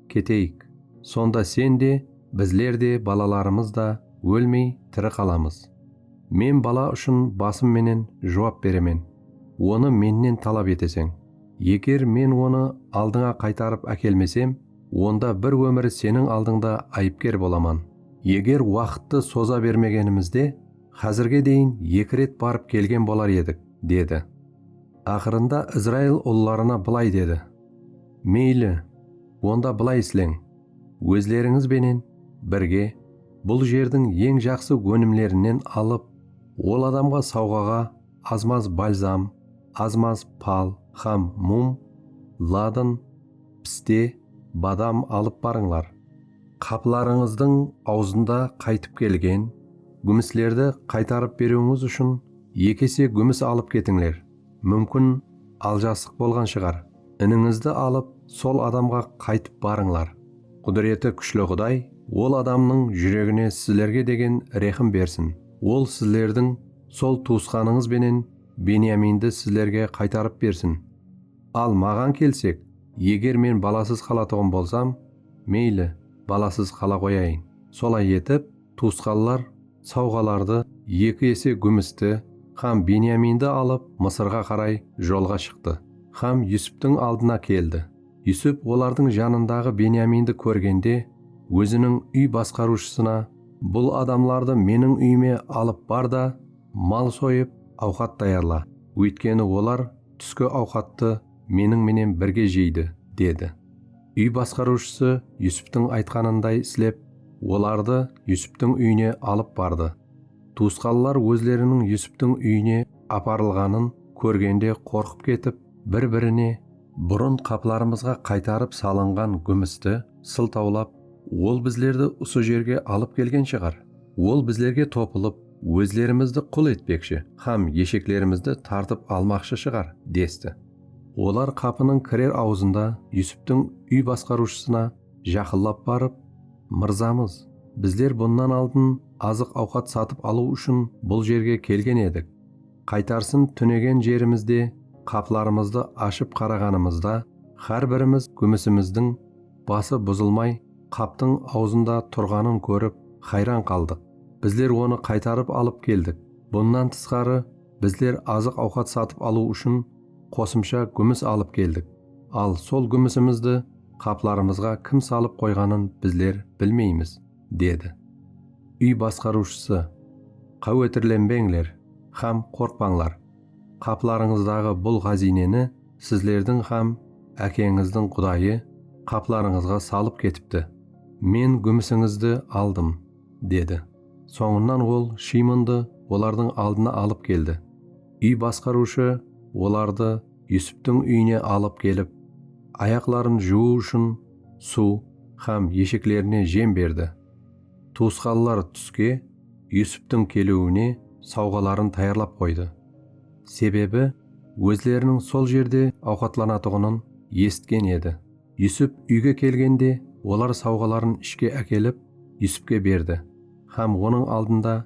keteyik, sonda sen de, bizler de, balalarımız da ólmey tiri qalamız. Men bala ushın basım menen juwap beremen, onı mennen talap eteseń. Eger Men onı aldıńa qaytarıp ákelmesem, onda bir ómir seniń aldıńda ayıpker bolaman. Eger waqıttı soza bermegenimizde, házirge deyin eki ret barıp kelgen bolar edik, dedi. Aqırında Izrail ullarına bılay dedi, Meyli, onda bılay isleń, ózlerińiz benen birge bul jerdiń eń jaqsı ónimlerinen alıp, ol adamǵa sawǵaǵa azmaz balzam, azmaz pal hám mum, ladın, piste, badam alıp barıńlar. Qaplarıńızdıń awzında qaytıp kelgen gúmislerdi qaytarıp beriwińiz ushın eki ese gúmis alıp ketińler. Múmkin, aljasıq bolǵan shıǵar. Inińizdi alıp, sol adamǵa qaytıp barıńlar. Qúdireti kúshli Quday ol adamnıń júregine sizlerge degen rehim bersin. Ol sizlerdiń sol tuwısqanıńız benen Beniyamindi sizlerge qaytarıp bersin. Al, maǵan kelsek, eger men balasız qalatuǵın bolsam, meyli, balasız qala qoyayın. Solay etip, tuwısqanlar sawǵalardı, eki ese gúmisti hám Beniyamindi alıp, Mısırǵa qaray jolǵa shıqtı hám Yusuptıń aldına keldi. Yusuf olardıń janındaǵı Benyamindi kórgende, óziniń úy basqarıwshısına, Bul adamlardı meniń úyime alıp bar da, mal soyıp, awqat tayarla, óytkeni olar túski awqattı meniń menen birge jeydi, dedi. Úy basqarıwshısı Yusuftıń aytqanınday islep, olardı Yusuftıń úyine alıp bardı. Tuwısqanlar ózleriniń Yusuftıń úyine aparılǵanın kórgende qorqıp ketip, Bir-birine burın qaplarımızǵa qaytarıp salınǵan gúmisti sıltawlap, Ol bizlerdi usı jerge alıp kelgen shıǵar. Ol bizlerge topılıp, ózlerimizdi qul etpekshi hám esheklerimizdi tartıp almaqshı shıǵar, desti. Olar qapınıń kirer awzında Yusuptıń úy basqarıwshısına jaqınlap barıp, Mırzamız, bizler bunnan aldın azıq-awqat satıp alıw ushın bul jerge kelgen edik. Qaytarsın túnegen jerimizde qaplarımızdı ashıp qaraǵanımızda xár birimiz gúmisimizdiń bası buzılmay qaptıń awzında turǵanın kórip xayran qaldıq. Bizler onı qaytarıp alıp keldik. Bunnan tısqarı bizler azıq-awqat satıp alıw ushın qosımsha gúmis alıp keldik. Al sol gúmisimizdi qaplarımızǵa kim salıp qoyǵanın bizler bilmeymiz. dedi. Úy basqarıwshısı, Qáwetirlenbeńler hám qorqpańlar, qaplarıńızdaǵı bul ǵáziyneni sizlerdiń hám ákeńizdiń Qudayı qaplarıńızǵa salıp ketipti. Men gúmisińizdi aldım, dedi. Sońınan ol Shiymondı olardıń aldına alıp keldi. Úy basqarıwshı olardı Yusuptıń úyine alıp kelip, ayaqların juwıw ushın, suw hám esheklerine jem berdi. Tuwısqanlar túske Yusuptıń keliwine sawǵaların tayarlap qoydı. Sebebi, ózleriniń sol jerde awqatlanatuǵının esitken edi. Yusup úyge kelgende olar sawǵaların ishke ákelip, Yusupke berdi hám onıń aldında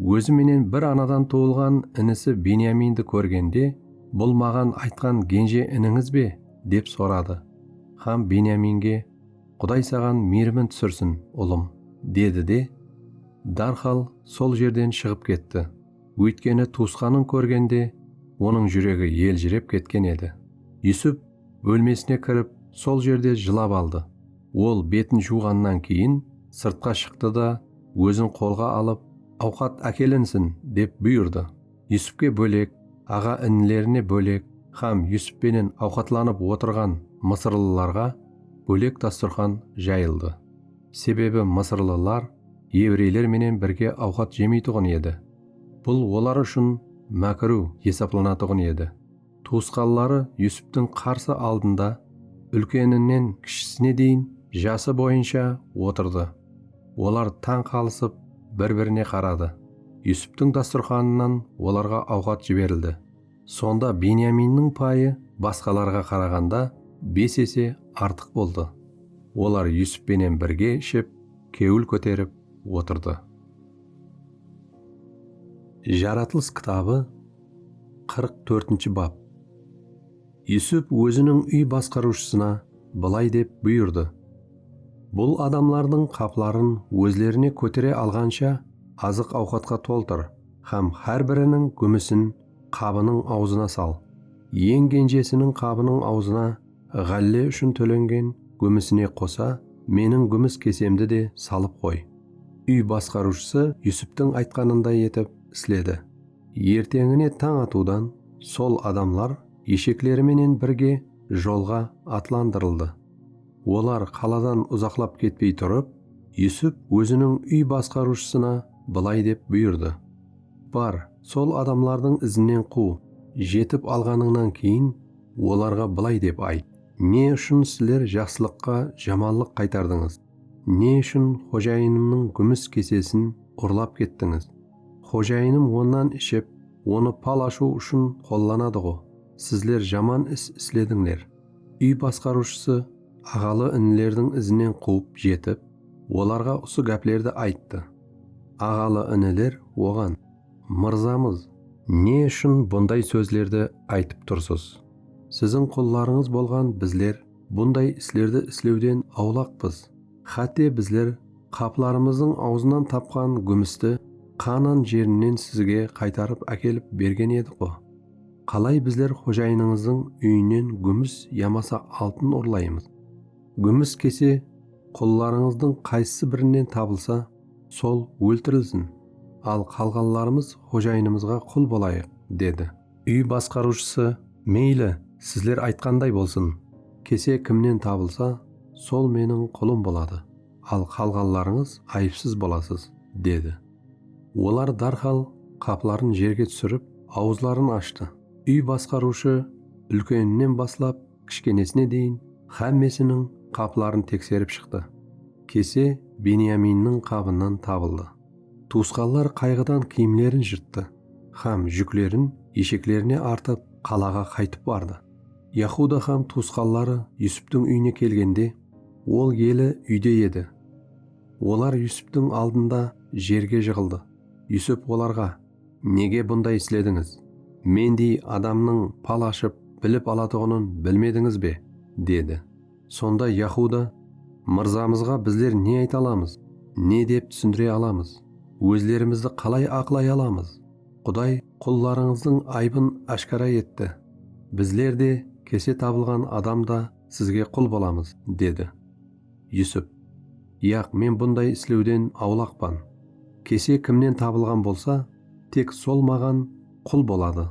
Ózi menen bir anadan tuwılǵan inisi Benyamindi kórgende, Bul maǵan aytqan genje inińiz be? dep soradı. Xam Benyaminge, Quday saǵan miyrimin túsirsin, ulım, dedi de, dárxal sol jerden shıǵıp ketti. Óytkeni tuwısqanın kórgende, onıń júregi eljirep ketken edi. Yusup bólmesine kirip, sol jerde jılap aldı. Ol betin juwǵannan keyin sırtqa shıqtı da, ózin qolǵa alıp, Awqat ákelinsin! dep buyırdı. Yusupke bólek, aǵa-inilerine bólek hám Yusup penen awqatlanıp otırǵan mısırlılarǵa bólek dasturxan jayıldı. Sebebi mısırlılar evreyler menen birge awqat jemeytuǵın edi. Bul olar ushın mákiru esaplanatuǵın edi. Tuwısqanları Yusuptıń qarsı aldında úlkeninen kishisine deyin jası boyınsha otırdı. Olar tań qalısıp bir-birine qaradı. Yusuptıń dasturxanınan olarǵa awqat jiberildi. Sonda Benyaminniń payı basqalarǵa qaraǵanda bes ese artıq boldı. Olar Yusup penen birge iship, kewil kóterip otırdı. Jaratılıs kitabı Qırq tórtinshi bap. Yusup óziniń úy basqarıwshısına bılay dep buyırdı, Bul adamlardıń qapların ózlerine kótere alǵansha azıq-awqatqa toltır hám hár biriniń gúmisin qabınıń awzına sal, eń genjesiniń qabınıń awzına ǵálle ushın tólengen gúmisine qosa meniń gúmis kesemdi de salıp qoy. Úy basqarıwshısı Yusuptıń aytqanınday etip isledi. Erteńine tań atıwdan sol adamlar eshekleri menen birge jolǵa atlandırıldı. Olar qaladan uzaqlap ketpey turıp, Yusup óziniń úy basqarıwshısına bılay dep buyırdı, Bar, sol adamlardıń izinen quw, jetip alǵanıńnan keyin, olarǵa bılay dep ayt, Ne ushın sizler jaqsılıqqa jamanlıq qaytardıńız? Ne ushın xojayınımnıń gúmis kesesin urlap kettińiz? Xojayınım onnan iship, onı pal ashıw ushın qollanadı-ǵo. Sizler jaman is isledińler. Úy basqarıwshısı aǵalı-inilerdiń izinen quwıp jetip, olarǵa usı gáplerdi ayttı. Aǵalı-iniler oǵan, Mırzamız! Ne ushın bunday sózlerdi aytıp tursız? Siziń qullarıńız bolǵan bizler bunday islerdi islewden awlaqpız. Xátte bizler qaplarımızdıń awzınan tapqan gúmisti Qaanan jerinen sizge qaytarıp ákelip bergen edik-ǵo. Qalay bizler xojayınıńızdıń úyinen gúmis yamasa altın urlaymız? Gúmis kese qullarıńızdıń qaysısı birinen tabılsa, sol óltirilsin, al qalǵanlarımız xojayınımızǵa qul bolayıq, dedi. Úy basqarıwshısı, Meyli, sizler aytqanday bolsın. Kese kimnen tabılsa, sol meniń qulım boladı, al qalǵanlarıńız ayıpsız bolasız, dedi. Olar dárhal qapların jerge túsirip, awızların ashtı. Úy basqarıwshı úlkeninen baslap kishkenesine deyin xámmesiniń qapların tekserip shıqtı. Kese Benyaminniń qabınan tabıldı. Tuwısqanlar qayǵıdan kiyimlerin jırttı hám júklerin esheklerine artıp, qalaǵa qaytıp bardı. Yahuda hám tuwısqanları Yusuptiń úyine kelgende, ol eli úyde edi. Olar Yusuptiń aldında jerge jıǵıldı. Yusup olarǵa. Nege bunday isledińiz? Mendey adamnıń pal ashıp, bilip alatuǵının bilmedińiz be? dedi. Sonda Yahuda, Mırzamızǵa bizler ne ayta alamız? Ne dep túsindire alamız? Ózlerimizdi qalay aqlay alamız? Quday qullarıńızdıń aybın áshkara etti. Bizler de, kese tabılǵan adam da sizge qul bolamız, dedi. Yusup, Yaq, men bunday islewden awlaqpan. Kese kimnen tabılǵan bolsa, tek sol maǵan qul boladı.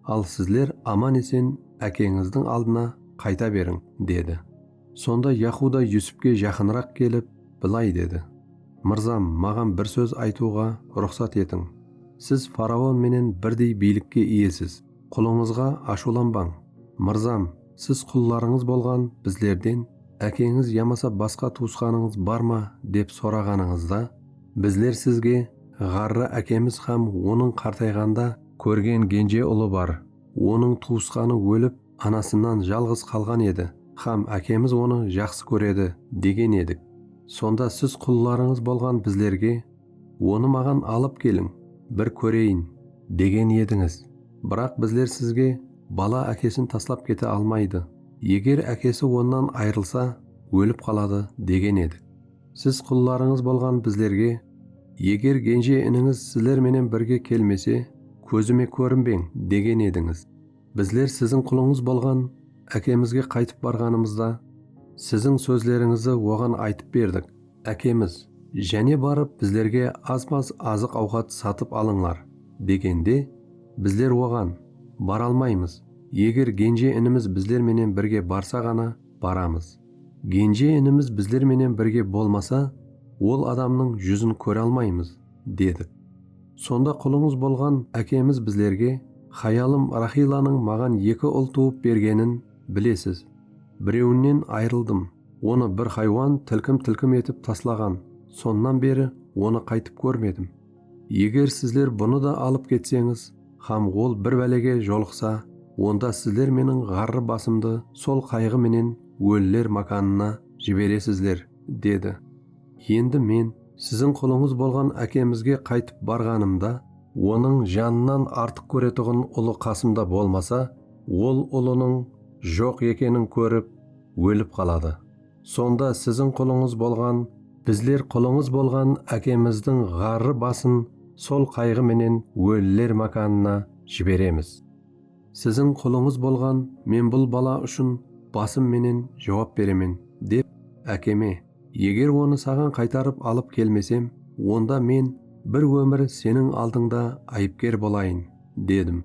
Al sizler aman-esen ákeńizdiń aldına qayta beriń, dedi. Sonda Yahuda Yusupke jaqınıraq kelip, bılay dedi, Mırzam, maǵan bir sóz aytıwǵa ruxsat etiń. Siz faraon menen birdey biylikke iyesiz, qulıńızǵa ashıwlanbań. Mırzam, siz qullarıńız bolǵan bizlerden, Ákeńiz yamasa basqa tuwısqanıńız bar ma? dep soraǵanıńızda, bizler sizge, Ǵarrı ákemiz hám onıń qartayǵanda, Kórgen genje ulı bar. Onıń tuwısqanı ólip, anasınan jalǵız qalǵan edi hám ákemiz onı jaqsı kóredi, degen edik. Sonda siz qullarıńız bolǵan bizlerge, Onı maǵan alıp keliń, bir kóreyin, degen edińiz. Biraq bizler sizge, Bala ákesin taslap kete almaydı. Eger ákesi onnan ayrılsa, ólip qaladı, degen edik. Siz qullarıńız bolǵan bizlerge, Eger genje inińiz sizler menen birge kelmese, kózime kórinbeń, degen edińiz. Bizler siziń qulıńız bolǵan ákemizge qaytıp barǵanımızda, siziń sózlerińizdi oǵan aytıp berdik, Ákemiz, jáne barıp bizlerge az-maz azıq-awqat satıp alıńlar, degende, bizler oǵan, Baralmaymız, eger genje-inimiz bizler menen birge barsa ǵana, baramız. Genje inimiz bizler menen birge bolmasa, ol adamnıń júzin kóre almaymız, dedik. Sonda qulıńız bolǵan ákemiz bizlerge, Hayalım Raxillanıń maǵan eki ul tuwıp bergenin bilesiz. Birewinen ayrıldım, onı bir haywan tilkim-tilkim etip taslaǵan, sonnan beri onı qaytıp kórmedim. Eger sizler bunı da alıp ketseńiz hám ol bir bálege jolıqsa, onda sizler meniń ǵarrı basımdı sol qayǵı menen óliler mákanına jiberesizler, dedi. Endi men siziń qulıńız bolǵan ákemizge qaytıp barǵanımda, onıń janınan artıq kóretuǵın ulı qasımda bolmasa, ol ulınıń joq ekenin kórip, ólip qaladı. Sonda siziń qulıńız bolǵan, bizler qulıńız bolǵan ákemizdiń ǵarrı basın sol qayǵı menen óliler mákanına jiberemiz. Siziń qulıńız bolǵan men bul bala ushın basım menen juwap beremen, dep ákeme, Eger onı saǵan qaytarıp alıp kelmesem, onda men bir ómir seniń aldıńda ayıpker bolayın, dedim.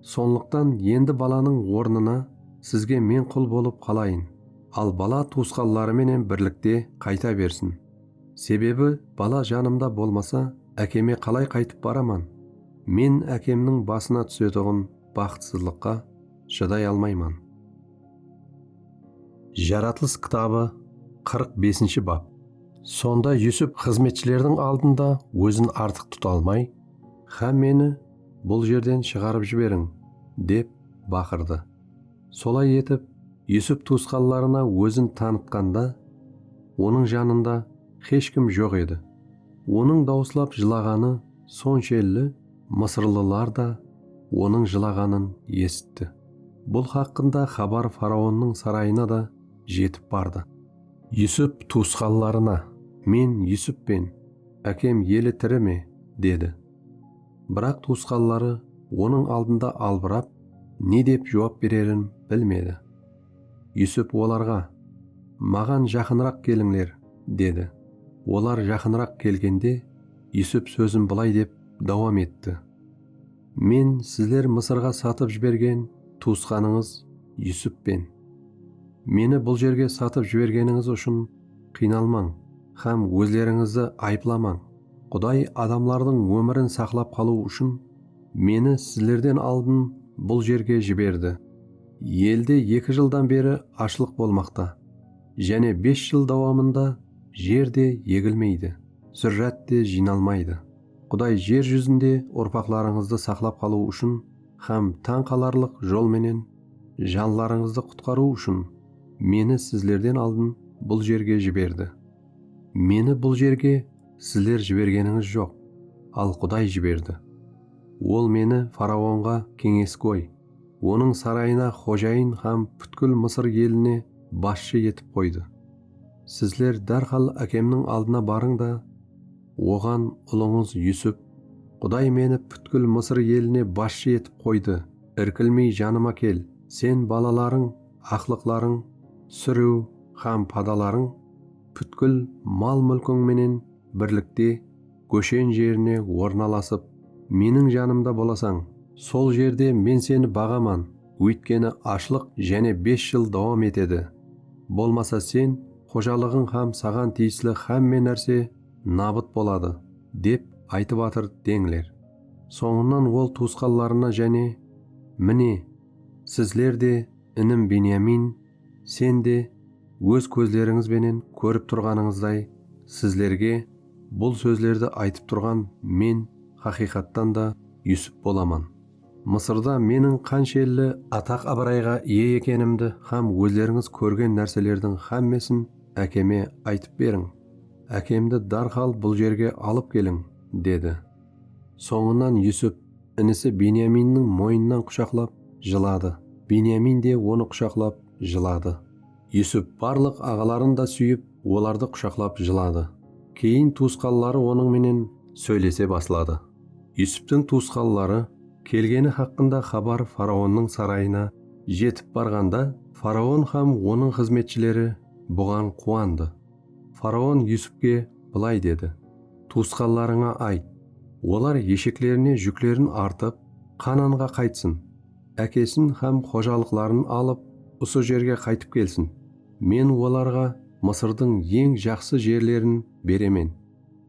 Sonlıqtan endi balanıń ornına sizge men qul bolıp qalayın. al bala tuwısqanları menen birlikte qayta bersin. Sebebi bala janımda bolmasa ákeme qalay qaytıp baraman? Men ákemniń basına túsetuǵın baxıtsızlıqqa shıday almayman. Jaratılıs kitabı qırq besinshi bap. Sonda Yusuf xızmetshilerdiń aldında ózin artıq tuta almay, Xá meni bul jerden shıǵarıp jiberiń! dep baqırdı. Solay etip, Yusup tuwısqanlarına ózin tanıtqanda, onıń janında xesh kim joq edi. Onıń dawıslap jılaǵanı sonshelli mısırlılar da onıń jılaǵanın esitti. Bul haqqında xabar faraonnıń sarayına da jetip bardı. Yusup tuwısqanlarına, Men Yusup pen, ákem eli tiri me? dedi. Biraq tuwısqanları onıń aldında albırap, ne dep juwap bererin bilmedi. Yusuf olarǵa, Maǵan jaqınıraq kelińler, dedi. Olar jaqınıraq kelgende, Yusuf sózin bılay dep dawam etti, Men sizler Mısırǵa satıp jibergen tuwısqanıńız Yusuppen. Meni bul jerge satıp jibergenińiz ushın qıynalmań hám ózlerińizdi ayıplamań. Quday adamlardıń ómirin saqlap qalıw ushın meni sizlerden aldın bul jerge jiberdi. Elde eki jıldan beri ashlıq bolmaqta, jáne bes jıl dawamında jer de egilmeydi, zúrrát te jıynalmaydı. Quday jer júzinde urpaqlarıńızdı saqlap qalıw ushın hám tań qalarlıq jol menen janlarıńızdı qutqarıw ushın meni sizlerden aldın bul jerge jiberdi. Meni bul jerge sizler jibergenińiz joq, al Quday jiberdi. Ol meni faraonǵa keńesgoy, onıń sarayına xojayın hám pútkil Mısır eline basshı etip qoydı. Sizler dárhal ákemniń aldına barıń da, oǵan, Ulıńız Yusuf, Quday meni pútkil Mısır eline basshı etip qoydı, irkilmey janıma kel, sen, balalarıń, aqlıqlarıń, súriw hám padalarıń pútkil mal-múlkiń menen birlikte Góshen jerine ornalasıp, meniń janımda bolasań. Sol jerde men seni baǵaman, óytkeni ashlıq jáne bes jıl dawam etedi. Bolmasa sen, xojalıǵıń hám saǵan tiyisli hámme nárse nabıt boladı, dep aytıp atır deńler. Sońınan ol tuwısqanlarına jáne, Mine, Sizler de, inim Benyamin, sen de, óz kózlerińiz benen kórip turǵanıńızday, sizlerge bul sózlerdi aytıp turǵan men haqıyqattan da Yusip bolaman. Mısırda meniń qanshelli ataq-abırayǵa iye ekenimdi hám ózlerińiz kórgen nárselerdiń hámmesin ákeme aytıp beriń. Ákemdi dárhal bul jerge alıp keliń, dedi. Sońınan Yusip Inisi Benyaminniń moyınnan qushaqlap, jıladı. Benyamin de onı qushaqlap, jıladı. Yusup barlıq aǵaların da súyip, olardı qushaqlap jıladı. Keyin tuwısqanları onıń menen sóylese basladı. Yusuptıń tuwısqanları kelgeni haqqında xabar faraonnıń sarayına jetip barǵanda, faraon hám onıń xızmetshileri buǵan quwandı. Faraon Yusupke bılay dedi, Tuwısqanlarıńa ayt, olar esheklerine júklerin artıp, Qananǵa qaytsın, ákesin hám xojalıqların alıp, usı jerge qaytıp kelsin. Men olarǵa Mısırdıń eń jaqsı jerlerin beremen,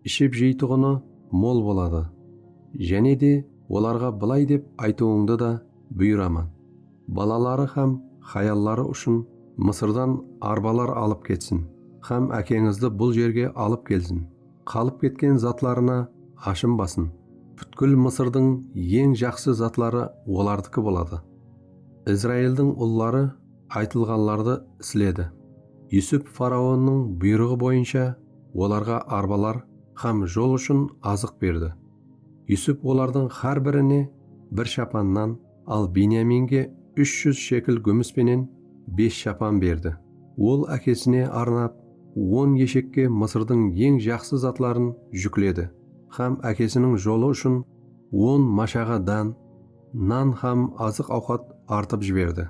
iship-jeytuǵını mol boladı. Jáne de olarǵa bılay dep aytıwıńdı da buyıraman. Balaları hám hayalları ushın Mısırdan arbalar alıp ketsin hám ákeńizdi bul jerge alıp kelsin. Qalıp ketken zatlarına ashınbasın. Pútkil Mısırdıń eń jaqsı zatları olardıkı boladı. Izraildıń ulları aytılǵanlardı isledi. Yusup faraonnıń buyrıǵı boyınsha olarǵa arbalar hám jol ushın azıq berdi. Yusup olardıń hár birine bir shapan nan, Al Benyaminge úsh júz shekl gúmis penen bes shapan berdi. Ol ákesine arnap, on eshekke Mısırdıń eń jaqsı zatların júkledi hám ákesiniń jolı ushın on mashaǵa dán, nan hám azıq-awqat artıp jiberdi.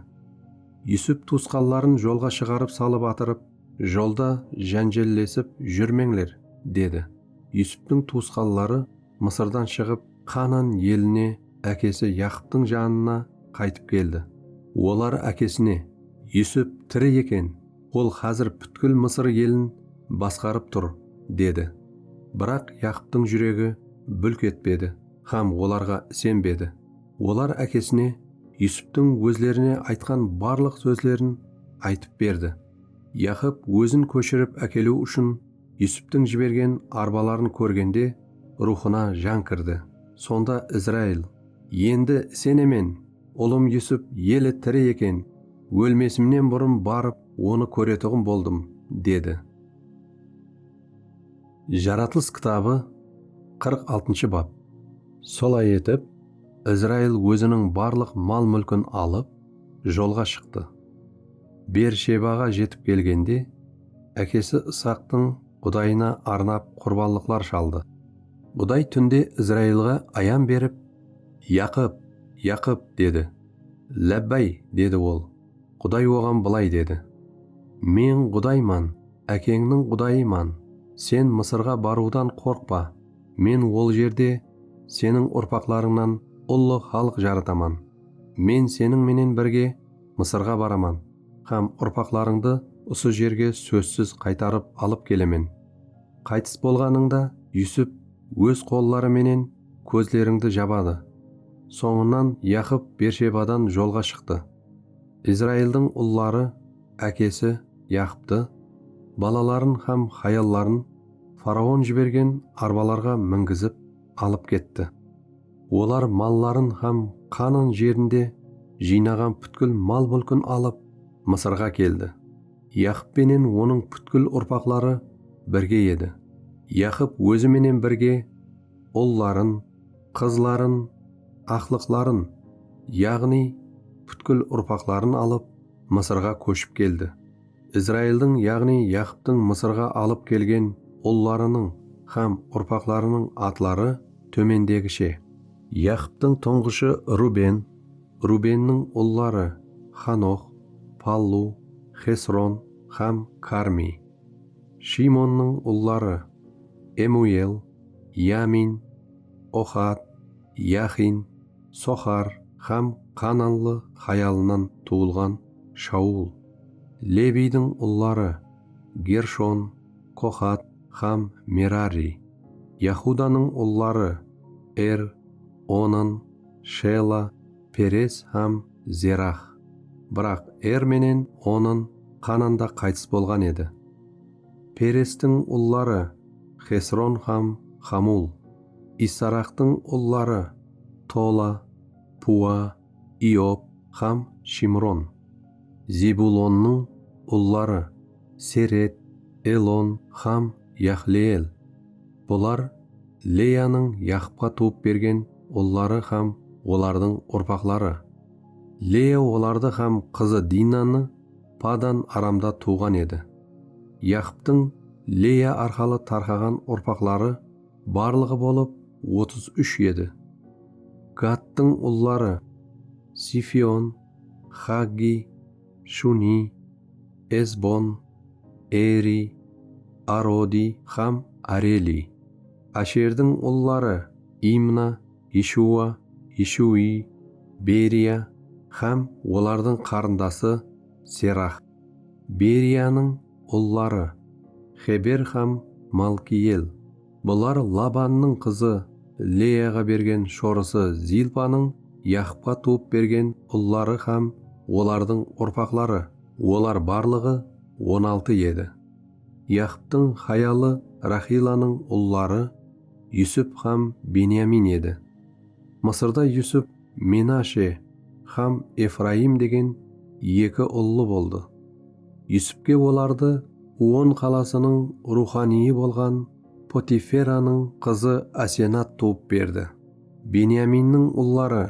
Yusuf tuwısqanların jolǵa shıǵarıp salıp atırıp, Jolda jánjellesip júrmeńler, dedi. Yusuftıń tuwısqanları Mısırdan shıǵıp, Qanan eline ákesi Yaqıptıń janına qaytıp keldi. Olar ákesine, Yusip tiri eken, ol xázir pútkil Mısır elin basqarıp tur, dedi. Biraq Yaqıptıń júregi búlk etpedi hám olarǵa isenbedi. Olar ákesine Yusiptiń ózlerine aytqan barlıq sózlerin aytıp berdi. Yaqıp ózin kóshirip ákeliw ushın Yusuptıń jibergen arbaların kórgende, ruwxına jan kirdi. Sonda Izrail, Endi isenemen, ulım Yusup eli tiri eken, ólmesimnen burın barıp, onı kóretuǵın boldım, dedi. Jaratılıs kitabı qırq altınshı bap. Solay etip, Izrail óziniń barlıq mal-múlkin alıp, jolǵa shıqtı. Beershebaǵa jetip kelgende, ákesi Isaqtıń Qudayına arnap qurbanlıqlar shaldı. Quday túnde Izrailǵa ayan berip, Yaqıp! Yaqıp! dedi. Lábbáy! dedi ol. Quday oǵan bılay dedi, Men Qudayman, ákeńniń Qudayıman, sen Mısırǵa barıwdan qorqpa, Men ol jerde seniń urpaqlarıńnan ullı xalıq jarataman, Men seniń menen birge Mısırǵa baraman hám urpaqlarıńdı usı jerge sózsiz qaytarıp alıp kelemen. Qaytıs bolǵanıńda Yusip óz qolları menen kózlerińdi jabadı. Sońınan Yaqıp Bershebadan jolǵa shıqtı. Izraildıń ulları ákesi Yaqıptı, balaların hám hayalların faraon jibergen arbalarǵa mingizip, alıp ketti. Olar malların hám Qanan jerinde jıynaǵan pútkil mal-múlkin alıp, Mısırǵa keldi. Yaqıp penen onıń pútkil urpaqları birge edi. Yaqıp ózi menen birge ulların, qızların, aqlıqların, yaǵnıy, pútkil urpaqların alıp, Mısırǵa kóship keldi. Izraildiń, yaǵnıy Yaqıptıń Mısırǵa alıp kelgen ullarınıń hám urpaqlarınıń atları tómendegishe. Yaqıptıń tuńǵıshı Ruben, Rubenniń ulları, Xanox, Pallu, Xesron hám Karmiy. Shiymonnıń ulları, Emuel, Yamin, Oxad, Yaxin. Soxar hám qananlı hayalınan tuwılǵan Shaul. Lebiydiń ulları, Gershon, Qoxat hám Merari. Yahudanıń ulları, Er, Onan, Shela, Perez hám Zerax. Biraq Er menen Onan Qananda qaytıs bolǵan edi. Perestiń ulları, Xesron hám Xamul. Issaraqtıń ulları, Tola, Pua, Iob hám Shimron. Zebulonnıń ulları, Seret, Elon hám Yaxleel. Bular Leyanıń Yaqıpqa tuwıp bergen ulları hám olardıń urpaqları. Leya olardı hám qızı Dinanı Padan Aramda tuwǵan edi. Yaqıptıń Leya arqalı tarqaǵan urpaqları barlıǵı bolıp otız úsh edi. Gattıń ulları, Zifion, Xaggiy, Shuniy, Ezbon, Eriy, Arodiy hám Areliy. Asherdiń ulları, Imna, Eshuwa, Eshuwiy, Beriya hám olardıń qarındası Serah. Beriyanıń ulları, Xeber hám Malkiyel. Bular Labannıń qızı Leyaǵa bergen shorısı Zilpanıń Yaqıpqa tuwıp bergen ulları hám olardıń urpaqları, olar barlıǵı on altı edi. Yaqıptıń hayalı Raxiylanıń ulları Yusup hám Benyamin edi. Mısırda Yusup Menashe hám Efrayım degen eki ullı boldı. Yusupke olardı On qalasınıń ruwxanıyı bolǵan Potiferanıń qızı Asenat tuwıp berdi. Benyaminniń ulları.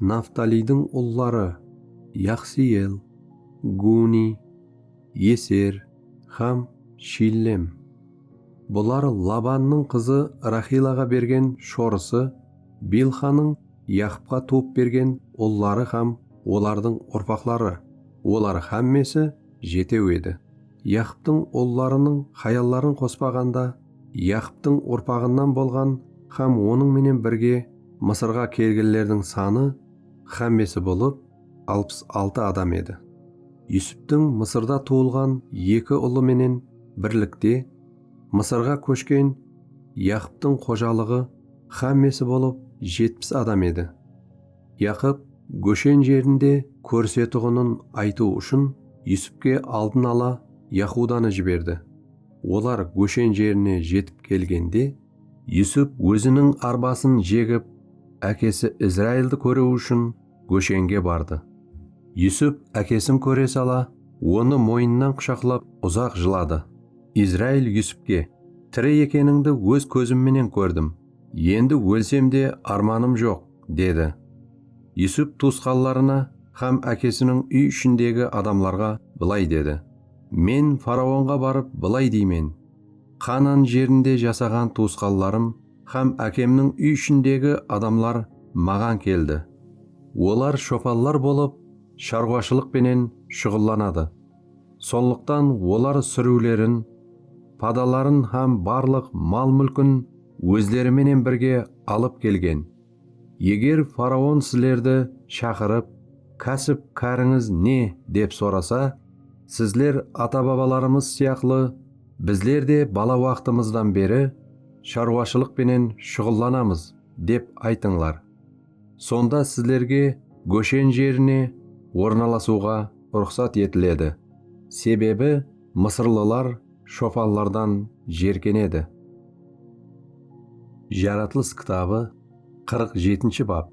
Naftaliydiń ulları, Yaqsiyel, Guni, Eser hám Shillem. Bular Labannıń qızı Raxilaǵa bergen shorısı Bilxanıń Yaqıpqa tuwıp bergen ulları hám olardıń urpaqları, olar hámmesi jetew edi. Yaqıptıń ullarınıń hayalların qospaǵanda, Yaqıptıń urpaǵınan bolǵan hám onıń menen birge Mısırǵa kelgenlerdiń sanı hámmesi bolıp, alpıs altı adam edi. Yusuptıń Mısırda tuwılǵan eki ulı menen birlikte Mısırǵa kóshken Yaqıptıń xojalıǵı hámmesi bolıp jetpis adam edi. Yaqıp Góshen jerinde kórisetuǵının aytıw ushın Yusupke aldın ala Yahudanı jiberdi. Olar Góshen jerine jetip kelgende. Yusup óziniń arbasın jegip, ákesi Izraildi kóriw ushın Góshenge bardı. Yusup ákesin kóre sala, onı moyınnan qushaqlap uzaq jıladı. Izrail Yusupke, Tiri ekenińdi óz kózim menen kórdim. Endi ólsem de armanım joq, dedi. Yusup tuwısqanlarına hám ákesiniń úy ishindegi adamlarǵa bılay dedi, Men faraonǵa barıp bılay deymen, Qaanan jerinde jasaǵan tuwısqanlarım hám ákemniń úy ishindegi adamlar maǵan keldi. Olar shopanlar bolıp, sharwashılıq penen shuǵıllanadı. Sonlıqtan olar súriwlerin, padaların hám barlıq mal-múlkin ózleri menen birge alıp kelgen. Eger faraon sizlerdi shaqırıp, Kásip-kárińiz ne? dep sorasa, sizler ata-babalarımız sıyaqlı bizler de bala waqtımızdan beri sharwashılıq penen shuǵıllanamız, dep aytıńlar. Sonda sizlerge Góshen jerine ornalasıwǵa ruxsat etiledi, sebebi mısırlılar shopanlardan jerkenedi. Jaratılıs kitabı qırq jetinshi bap.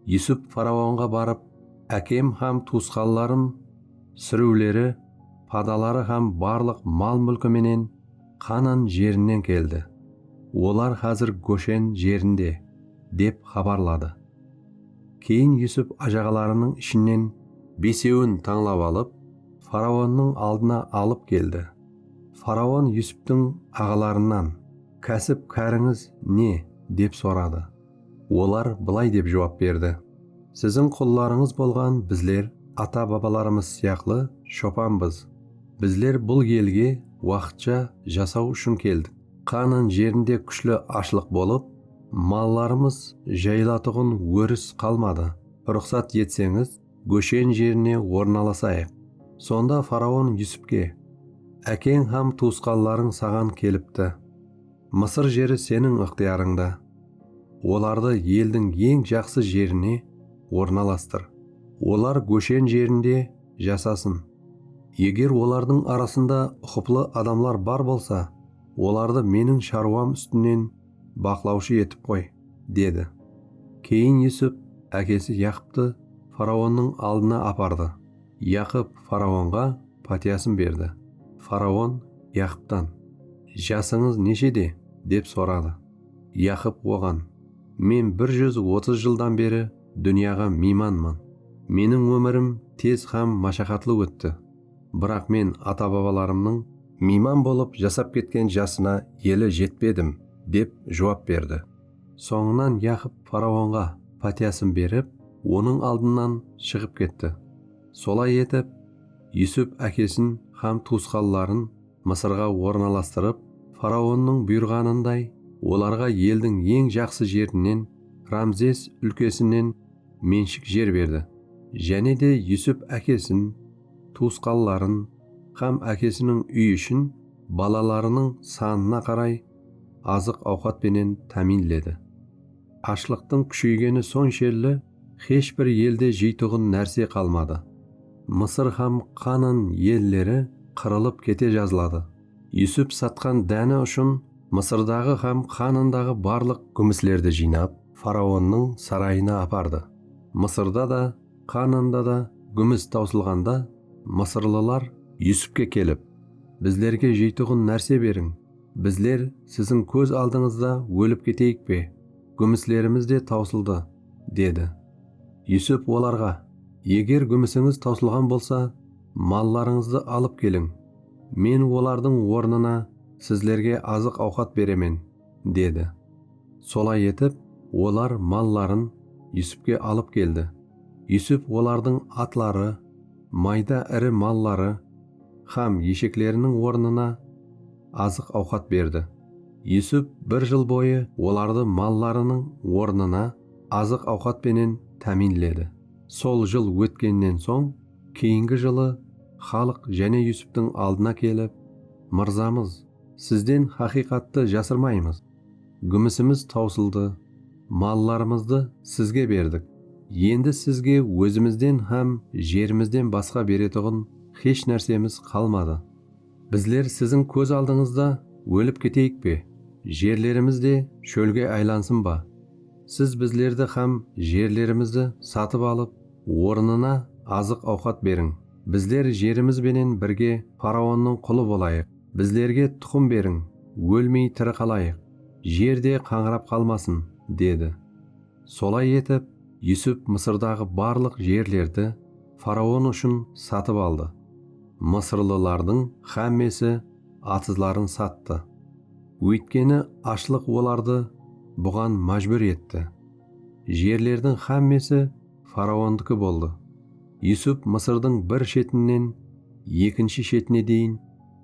Yusup faraonǵa barıp, Ákem hám tuwısqanlarım súriwleri, padaları hám barlıq mal-múlki menen Qanan jerinen keldi. Olar xázir Goshen jerinde, dep xabarladı. Keyin Yusup ájaǵalarınıń ishinen besewin tańlap alıp, faraonnıń aldına alıp keldi. Faraon Yusuptıń aǵalarınan, Kásip-kárińiz ne? dep soradı. Olar bılay dep juwap berdi, Siziń qullarıńız bolǵan bizler ata-babalarımız sıyaqlı shopanbız. Bizler bul elge waqıtsha jasaw ushın keldik. Qaanan jerinde kúshli ashlıq bolıp, mallarımız jayılatuǵın óris qalmadı. Ruqsat etseńiz, Góshen jerine ornalasayıq. Sonda faraon Yusupke, Ákeń hám tuwısqanlarıń saǵan kelipti. Mısır jeri seniń ıqtıyarıńda. Olardı eldiń eń jaqsı jerine ornalastır. Olar Góshen jerinde jasasın. Eger olardıń arasında uqıplı adamlar bar bolsa, olardı meniń sharwam ústinen baqlawshı etip qoy, dedi. Keyin Yusup ákesi Yaqıptı faraonnıń aldına apardı. Yaqıp faraonǵa patiyasın berdi. Faraon Yaqıptan, Jasıńız neshede? dep soradı. Yaqıp oǵan, Men bir júz otız jıldan beri dúnyaǵa miymanman. Meniń ómirim tez hám mashaqatlı ótti. Biraq men ata-babalarımnıń. Miyman bolıp jasap ketken jasına eli jetpedim, dep juwap berdi. Sońınan Yaqıp faraonǵa pátiyasın berip, onıń aldınnan shıǵıp ketti. Solay etip, Yusup ákesin hám tuwısqanların Mısırǵa ornalastırıp, faraonnıń buyırǵanınday, olarǵa eldiń eń jaqsı jerinen, Ramzes úlkesinen menshik jer berdi. Jáne de Yusup ákesin, tuwısqanların hám ákesiniń úyi ushın balalarınıń sanına qaray azıq-awqat penen támiyinledi. Ashlıqtıń kúsheygeni sonshelli xesh bir elde jeytuǵın nárse qalmadı. Mısır hám Qanan elleri qırılıp kete jazladı. Yusup satqan dáni ushın Mısırdaǵı hám Qanandaǵı barlıq gúmislerdi jıynap, faraonnıń sarayına apardı. Mısırda da, Qananda da gúmis tawsılǵanda, mısırlılar Yusupke kelip, Bizlerge jeytuǵın nárse beriń! Bizler siziń kóz aldıńızda ólip keteyik pe? Gúmislerimiz de tawsıldı, dedi. Yusuf olarǵa, Eger gúmisińiz tawsılǵan bolsa, mallarıńızdı alıp keliń. Men olardıń ornına sizlerge azıq-awqat beremen, dedi. Solay etip, olar malların Yusufke alıp keldi. Yusuf olardıń atları, mayda iri malları hám eshekleriniń ornına azıq-awqat berdi. Yusuf bir jıl boyı olardı mallarınıń ornına azıq-awqat penen támiynledi. Sol jıl ótkennen soń, keyingi jılı xalıq jáne Yusuftıń aldına kelip, Mırzamız, sizden haqıyqattı jasırmaymız! Gúmisimiz tawsıldı, mallarımızdı sizge berdik, endi sizge ózimizden hám jerimizden basqa beretuǵın hesh nársemiz qalmadı. Bizler siziń kóz aldıńızda ólip keteyik pe? Jerlerimiz de shólge aylansın ba? Siz bizlerdi hám jerlerimizdi satıp alıp, ornına azıq-awqat beriń. Bizler jerimiz benen birge faraonnıń qulı bolayıq. Bizlerge tuqım beriń, ólmey tiri qalayıq, jer de qańırap qalmasın, dedi. Solay etip, Yusup Mısırdaǵı barlıq jerlerdi faraon ushın satıp aldı. Mısırlılardıń xámmesi atızların sattı. Óytkeni ashlıq olardı buǵan májbúr etti. Jerlerdiń xámmesi faraondiki boldı. Yusup Mısırdıń bir shetinen ekinshi shetine deyin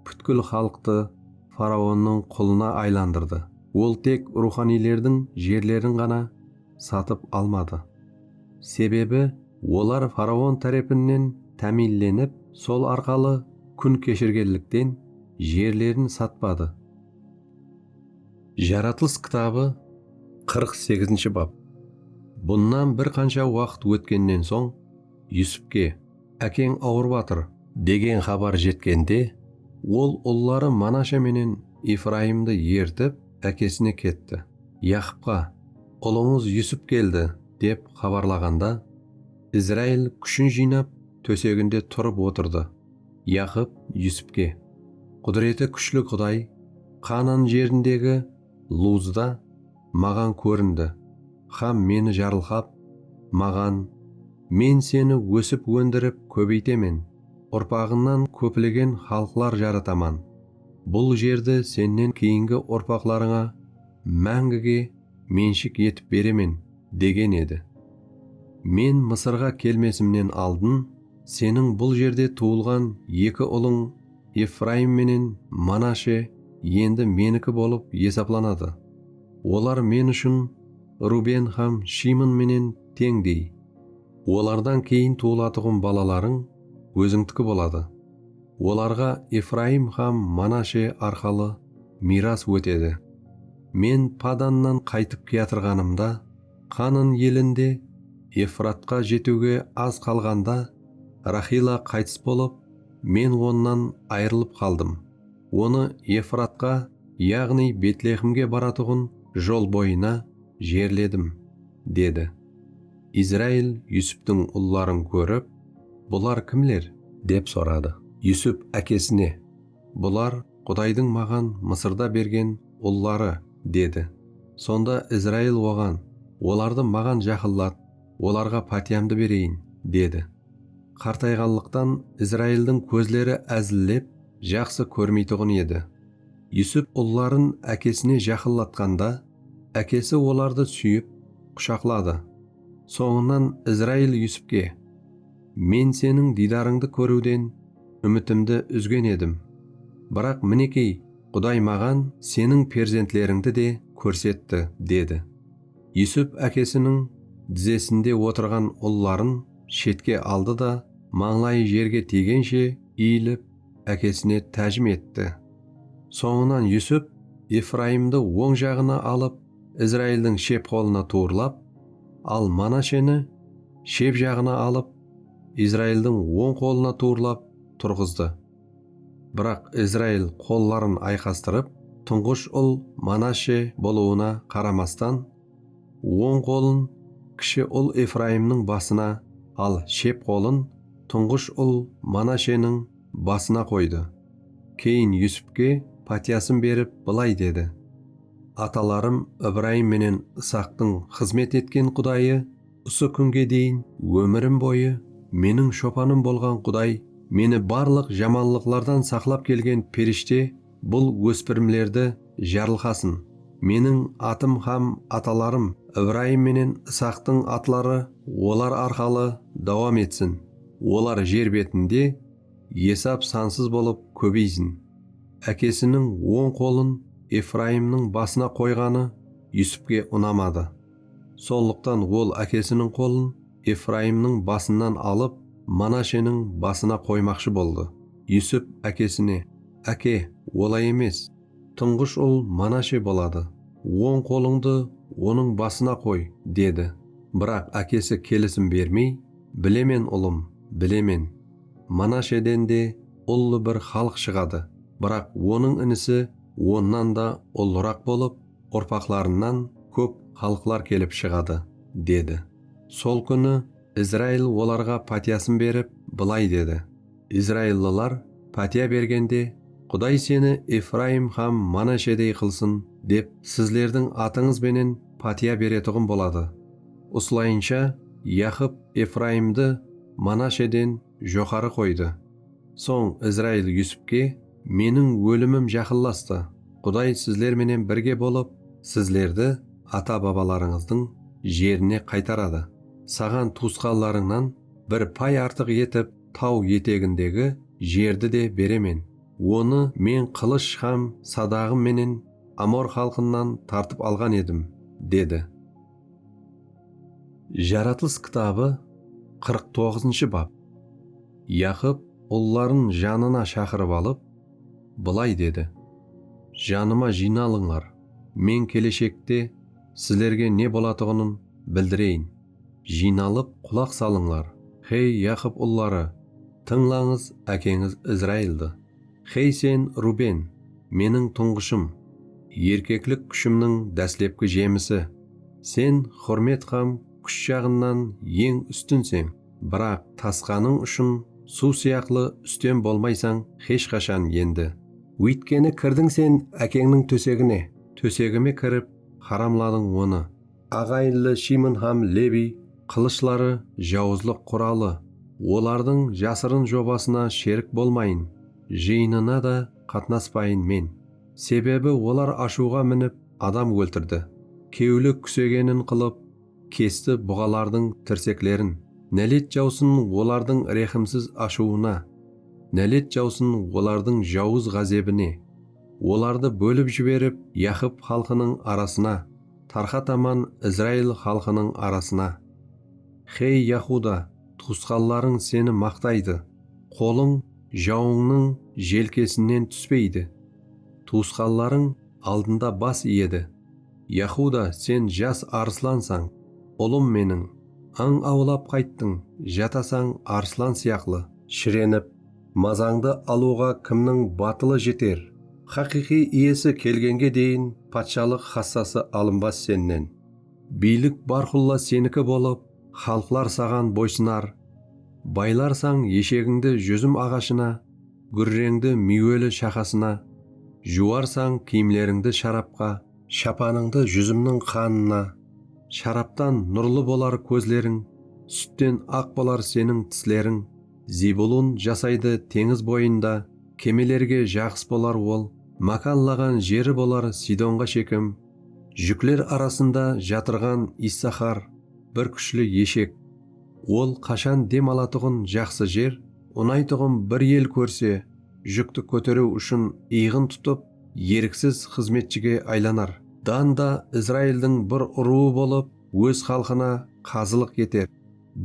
pútkil xalıqtı faraonnıń qulına aylandırdı. Ol tek ruwxaniylerdiń jerlerin ǵana satıp almadı. Sebebi olar faraon tárepinen támiyinlenip, sol arqalı kún keshirgenlikten jerlerin satpadı. Jaratılıs kitabı qırq segizinshi bap Bunnan bir qansha waqıt ótkennen soń, Yusupke, Ákeń awırıp atır! Degen xabar jetkende, ol ulları Manasha menen Efrayımdı ertip, ákesine ketti. Yaqıpqa, Ulıńız Yusup keldi! dep xabarlaǵanda, Izrail kúshin jıynap, tóseginde turıp otırdı. Yaqıp Yusipke, Qúdireti kúshli Quday Qaanan jerindegi Luzda maǵan kórindi hám meni jarılqap, maǵan, Men seni ósip-óndirip kóbeytemen, urpaǵıńnan kóplegen xalıqlar jarataman, bul jerdi sennen keyingi urpaqlarıńa máńgige menshik etip beremen, degen edi. Men Mısırǵa kelmesimnen aldın, Seniń bul jerde tuwılǵan eki ulıń Efrayım menen Manashe endi Meniki bolıp esaplanadı. Olar Men ushın Ruben hám Shimon menen teńdey. Olardan keyin tuwılatuǵın balalarıń Ózińdiki boladı. Olarǵa Efrayım hám Manashe arqalı miyras ótedi. Men Padannan qaytıp kiyatırǵanımda, Qanın elinde Efratqa jetiwge az qalǵanda Raxila qaytıs bolıp, men onnan ayrılıp qaldım, onı Efratqa, yaǵnıy Betlexmge baratuǵın jol boyına jerledim, dedi. Izrail Yusuptıń ulların kórip, Bular kimler? Dep soradı. Yusup ákesine. Bular Qudaydıń maǵan Mısırda bergen ulları, dedi. Sonda Izrail oǵan, Olardı maǵan jaqınlat, olarǵa pátiyamdı bereyin, dedi. Qartayǵanlıqtan Izraildıń kózleri ázillep, jaqsı kórmeytuǵın edi. Yusup ulların ákesine jaqınlatqanda, ákesi olardı súyip, qushaqladı. Sońınan Izrail Yusupke. Men Seniń diydarıńdı kóriwden úmitimdi úzgen edim, biraq minekey, Quday maǵan Seniń perzentterińdi de kórsetti, dedi. Yusup ákesiniń dizesinde otırǵan ulların shetke aldı da, mańlayı jerge tiygenshe iyilip, ákesine tájim etti. Sońınan Yusup Efrayımdı oń jaǵına alıp, Izraildiń shep qolına tuwırlap, al Manasheni, shep jaǵına alıp, Izraildiń oń qolına tuwrılap turǵızdı. Biraq Izrail qolların ayqastırıp, tuńǵısh ul Manashe bolıwına qaramastan, oń qolın kishi ul Efraimniń basına, al shep qolın tuńǵısh ul Manasheniń basına qoydı. Keyin Yusupke pátiyasın berip, bılay dedi, Atalarım Ibraim menen Isaqtıń xızmet etken Qudayı, Usı kúnge deyin ómirim boyı meniń shopanım bolǵan Quday meni barlıq jamanlıqlardan saqlap kelgen perishte bul óspirimlerdi jarılqasın. Meniń atım hám atalarım Ibrayım menen Isaqtıń atları olar arqalı dawam etsin. Olar jer betinde esap sansız bolıp kóbeysin. Ákesiniń oń qolın Efrayımnıń basına qoyǵanı Yusupke unamadı. Sonlıqtan ol ákesiniń qolın Efrayımnıń basınan alıp, Manasheniń basına qoymaqshı boldı. Yusip ákesine, Áke, olay emes! Tuńǵısh ul Manashe boladı. Oń qolıńdı onıń basına qoy, dedi. Biraq ákesi kelisim bermey, Bilemen, ulım, bilemen. Manasheden de ullı bir xalıq shıǵadı, biraq onıń inisi onnan da ullıraq bolıp, urpaqlarınan kóp xalıqlar kelip shıǵadı, dedi. Sol kúni Izrail olarǵa pátiyasın berip, bılay dedi, Izraillılar pátiya bergende, Quday seni Efrayım hám Manashedey qılsın, dep sizlerdiń atıńız benen pátiya beretuǵın boladı. Usılayınsha Yaqıp Efrayımdı Manasheden joqarı qoydı. Soń Izrail Yusupke, Meniń ólimim jaqınlastı. Quday sizler menen birge bolıp, sizlerdi ata-babalarıńızdıń jerine qaytaradı. Saǵan tuwısqanlarıńnan bir pay artıq etip taw etegindegi jerdi de beremen. Onı Men qılısh hám sadaǵım menen amor xalqınan tartıp alǵan edim, dedi. Jaratılıs kitabı qırq toǵızınshı bap. Yaqıp ulların janına shaqırıp alıp, bılay dedi, Janıma jıynalıńlar, men keleshekte sizlerge ne bolatuǵının bildireyin. Jıynalıp qulaq salıńlar, hey Yaqıp ulları, tıńlańız ákeńiz Izraildı. Xey sen, Ruben, meniń tuńǵıshım, Erkeklik kúshimniń dáslepki jemisi. Sen húrmet hám kúsh jaǵınnan eń ústinseń, Biraq tasqanıń ushın suw sıyaqlı ústem bolmaysań xesh qashan endi. Óytkeni kirdiń sen ákeńniń tósegine, Tósegime kirip, haramladıń onı. Aǵayinli Shimun hám Lebiy qılıshları jawızlıq quralı, olardıń jasırın jobasına sherik bolmayın, jıyınına da qatnaspayın men. Sebebi olar ashıwǵa minip adam óltirdi, kewli kúsegenin qılıp, kesti buǵalardıń tirseklerin. Nálet jawsın olardıń rehimsiz ashıwına, nálet jawsın olardıń jawız ǵázebine, olardı bólip jiberip, Yaqıp xalqınıń arasına. Tarqataman Izrail xalqınıń arasına. Xey, Yahuda, tuwısqanlarıń seni maqtaydı, qolıń jawıńnıń jelkesinen túspeydi. Tuwısqanlarıń aldında bas iyedi. Yahuda, sen jas arıslansań, ulım meniń, ań awlap qayttıń, jatasań arıslan sıyaqlı. Shirenip, Mazańdı alıwǵa kimniń batılı jeter? Xaqıyqıy iyesi kelgenge deyin patshalıq xassası alınbas sennen. Biylik bárqulla seniki bolıp, xalıqlar saǵan boysınar. Baylarsań eshegińdi júzim aǵashına, gúrreńdi miyweli shaqasına, juwarsań kiyimlerińdi sharapqa, shapanıńdı júzimniń qanına, sharaptan nurlı bolar kózleriń, sútten aq bolar seniń tisleriń, Zebulun jasaydı teńiz boyında, Kemelerge jaǵıs bolar ol, Mákanlaǵan jeri bolar Sidonǵa Shekem. Júkler arasında jatırǵan Issaxar, Bir kúshli eshek. Ol qashan dem alatuǵın jaqsı jer, Unaytuǵın bir el kórse, Júkti kóteriw ushın iyǵın tutıp, Eriksiz xızmetshige aylanar. Dan da Izraildiń bir urıwı bolıp, Óz xalqına qazılıq eter.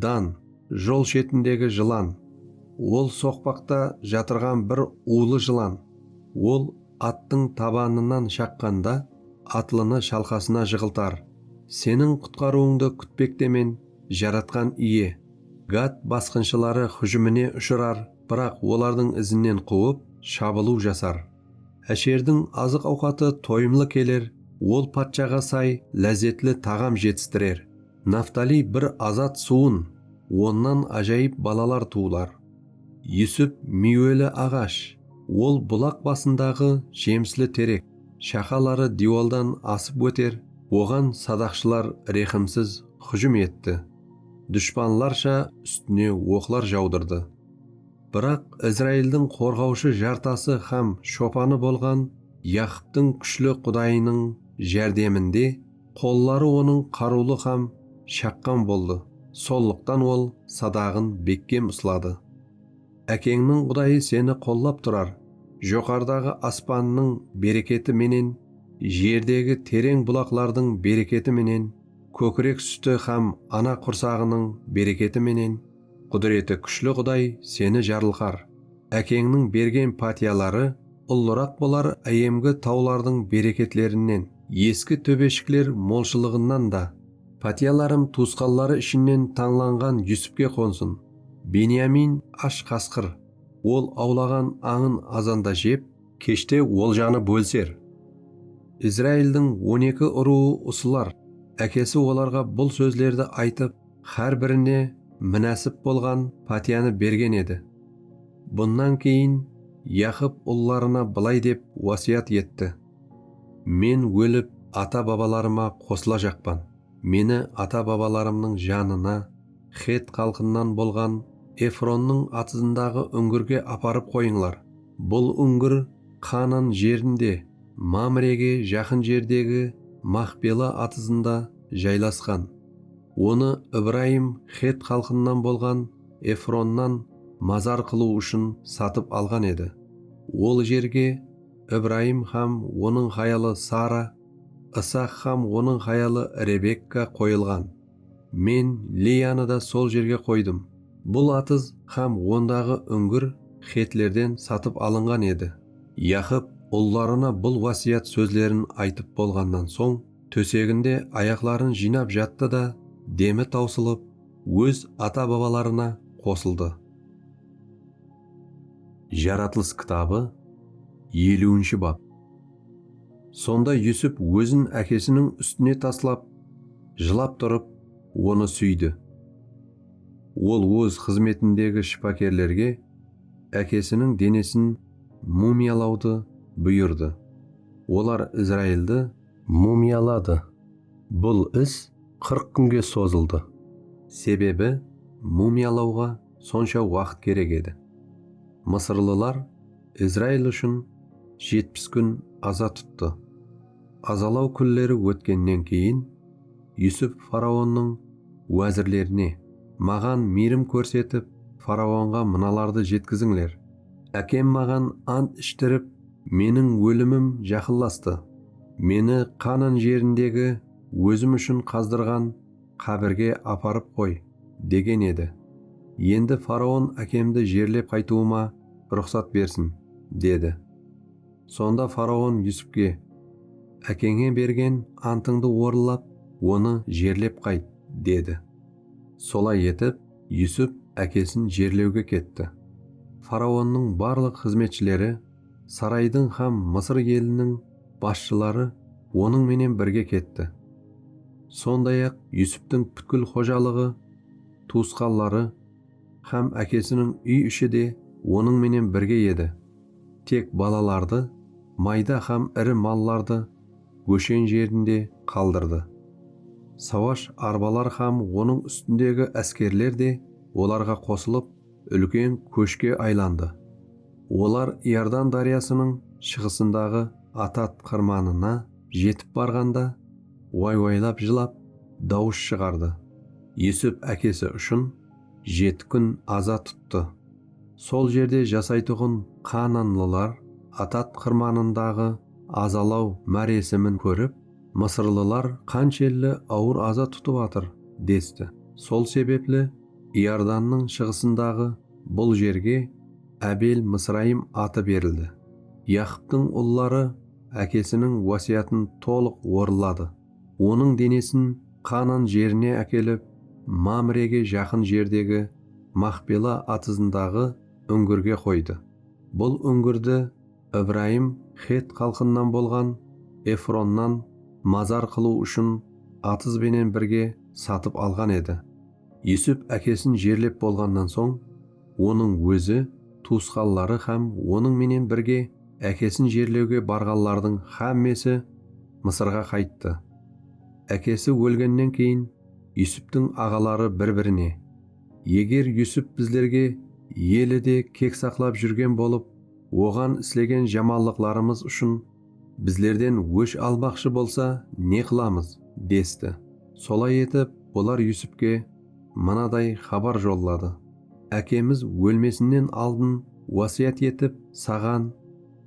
Dan, jol shetindegi jılan, ol soqpaqta jatırǵan bir ulı jılan, ol attıń tabanınan shaqqanda atlını shalqasına jıǵıltar. Seniń qutqarıwıńdı kútpektemen, Jaratqan Iye. Gat basqınshıları hújimine ushırar, biraq olardıń izinen quwıp, shabılıw jasar. Ásherdiń azıq-awqatı toyımlı keler, ol patshaǵa say, lázzetli taǵam jetistirer. Naftaliy bir azat suwın, onnan ájayıp balalar tuwılar. Yusip miyweli aǵash, ol bulaq basındaǵı jemisli terek, shaqaları diywaldan asıp óter, oǵan sadaqshılar rehimsiz hújim etti, dushpanlarsha ústine oqlar jawdırdı. Biraq Izraildıń qorǵawshı jartası hám shopanı bolǵan Yaqıptıń kúshli Qudayınıń járdeminde, Qolları onıń qarıwlı hám shaqqan boldı, sonlıqtan ol sadaǵın bekkem usladı. Ákeńniń Qudayı seni qollap turar, joqarıdaǵı aspannıń bereketi menen, jerdegi tereń bulaqlardıń bereketi menen, kókirek súti hám ana qursaǵınıń bereketi menen, Qúdireti kúshli Quday seni jarılqar, ákeńniń bergen pátiyaları ullıraq bolar áyemgi tawlardıń bereketlerinnen, eski tóbeshikler molshılıǵınan da. Pátiyalarım tuwısqanları ishinnen tańlanǵan Yusupke qonsın, Benyamin ash qasqır, ol awlaǵan ańın azanda jep, keshte oljanı bólser, Izraildıń on eki urıwı usılar, ákesi olarǵa bul sózlerdi aytıp, hár birine minásip bolǵan pátiyanı bergen edi. Bunnan keyin Yaqıp ullarına bılay dep wásiyat etti, Men ólip ata-babalarıma qosıla jaqpan, meni ata-babalarımnıń janına, xet xalqınan bolǵan Efronnıń atızındaǵı úńgirge aparıp qoyıńlar. Bul úńgir Qanan jerinde, Mamrege jaqın jerdegi Maxpela atızında jaylasqan. Onı Ibrayım xet xalqınnan bolǵan Efronnan mazar qılıw ushın satıp alǵan edi. Ol jerge Ibrayım hám onıń hayalı Sara, Isaq hám onıń hayalı Rebekka qoyılǵan. Men Leyanı da sol jerge qoydım. Bul atız hám ondaǵı úngir xetlerden satıp alınǵan edi. Yaqıp ullarına bul wásiyat sózlerin aytıp bolǵannan soń, tóseginde ayaqların jıynap jattı da, demi tawsılıp, óz ata-babalarına qosıldı. Jaratılıs kitabı, eliwinshi bap. Sonda Yusuf ózin ákesiniń ústine taslap, jılap turıp, onı súydi. Ol óz xızmetindegi shıpakerlerge ákesiniń denesin mumiyalawdı buyırdı. Olar Izraildi mumiyaladı. Bul is qırq kúnge sozıldı. Sebebi mumiyalawǵa sonsha waqıt kerek edi. Mısırlılar Izrail ushın jetpis kún aza tuttı. Azalaw kúnleri ótkennen keyin, Yusuf faraonnıń wázirlerine, Maǵan miyrim kórsetip, faraonǵa mınalardı jetkizińler, Ákem maǵan ant ishtirip, Meniń ólimim jaqınlastı. Meni Qanan jerindegi ózim ushın qazdırǵan qábirge aparıp qoy, degen edi. Endi faraon ákemdi jerlep qaytıwıma ruxsat bersin, dedi. Sonda faraon Yusupke, Ákeńe bergen antıńdı orınlap, onı jerlep qayt, dedi. Solay etip, Yusup ákesin jerlewge ketti. Faraonnıń barlıq xızmetshileri, saraydıń hám Mısır eliniń basshıları onıń menen birge ketti. Sonday-aq, Yusuptıń pútkil xojalıǵı, tuwısqanları hám ákesiniń úy-ishi de onıń menen birge edi, tek balalardı, mayda hám iri mallardı Óshen jerinde qaldırdı. Sawash arbaları hám onıń ústindegi áskerler de olarǵa qosılıp, úlken kóshke aylandı. Olar Iordan dáryasınıń shıǵısındaǵı Atat qırmanına jetip barǵanda, way-waylap jılap, dawıs shıǵardı. Yusup ákesi ushın jeti kún aza tuttı. Sol jerde jasaytuǵın qaananlılar Atat qırmanındaǵı azalaw máresimin kórip, Mısırlılar qanshelli awır aza tutıp atır, desti. Sol sebepli Iordannıń shıǵısındaǵı bul jerge Abel-Mısrayim atı berildi. Yaqıptıń ulları ákesiniń wásiyatın tolıq orınladı. Onıń denesin Qanan jerine ákelip, Mamrege jaqın jerdegi Maxpela atızındaǵı úńgirge qoydı. Bul úńgirdi Ibrayım xet xalqınnan bolǵan Efronnan mazar qılıw ushın atız benen birge satıp alǵan edi. Yusuf ákesin jerlep bolǵannan soń, onıń ózi, tuwısqanları hám onıń menen birge ákesin jerlewge barǵanlardıń hámmesi Mısırǵa qayttı. Ákesi ólgennen keyin Yusuftıń aǵaları bir-birine, Eger Yusuf bizlerge eli de kek saqlap júrgen bolıp, oǵan islegen jamanlıqlarımız ushın Bizlerden ósh albaqshı bolsa, ne qılamız? desti. Solay etip, olar Yusupke mınaday xabar jolladı, Ákemiz ólmesinnen aldın wásiyat etip, saǵan,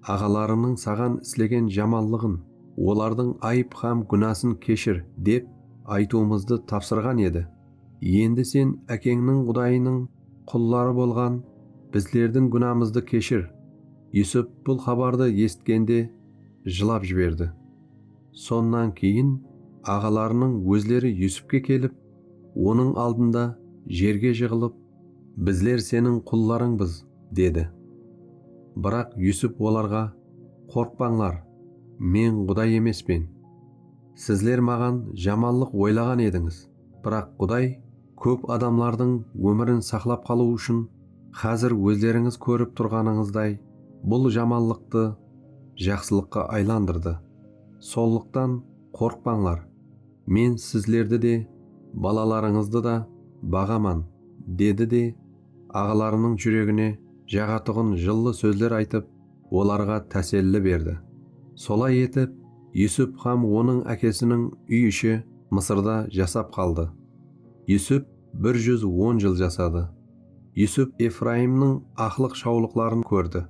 aǵalarıńnıń saǵan islegen jamanlıǵın, olardıń ayıp hám gúnasın keshir, dep aytıwımızdı tapsırǵan edi. Endi sen ákeńniń Qudayınıń Qulları bolǵan bizlerdiń gúnamızdı keshir. Yusup bul xabardı esitkende jılap jiberdi. Sonnan keyin aǵalarınıń ózleri Yusupke kelip, onıń aldında jerge jıǵılıp, Bizler seniń qullarıńbız, dedi. Biraq Yusup olarǵa, Qorqpańlar, men Quday emespen. Sizler maǵan jamanlıq oylaǵan edińiz. Biraq Quday kóp adamlardıń ómirin saqlap qalıw ushın xázir ózlerińiz kórip turǵanıńızday bul jamanlıqtı jaqsılıqqa aylandırdı. Sonlıqtan qorqpańlar, Men sizlerdi de, balalarıńızdı da baǵaman, dedi de, aǵalarınıń júregine jaǵatuǵın jıllı sózler aytıp, olarǵa táselli berdi. Solay etip, Yusup hám onıń ákesiniń úy-ishi Mısırda jasap qaldı. Yusup bir júz on jıl jasadı. Yusup Efraimniń aqlıq-shawlıqların kórdi,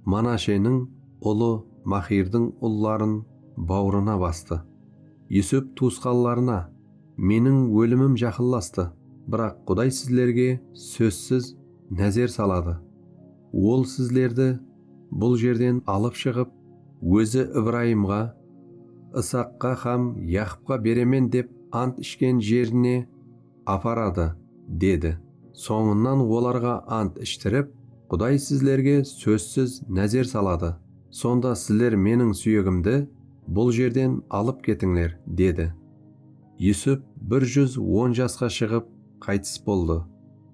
Manasheniń ulı Maxirdiń ulların bawrına bastı. Yusup tuwısqanlarına, Meniń ólimim jaqınlastı, biraq Quday sizlerge sózsiz názer saladı. Ol sizlerdi bul jerden alıp shıǵıp, Ózi Ibrayımǵa, Isaqqa hám Yaqıpqa beremen dep ant ishken jerine aparadı, dedi. Sońınan olarǵa ant ishtirip, Quday sizlerge sózsiz názer saladı, sonda sizler meniń súyegimdi bul jerden alıp ketińler, dedi. Yusup bir júz on jasqa shıǵıp qaytıs boldı.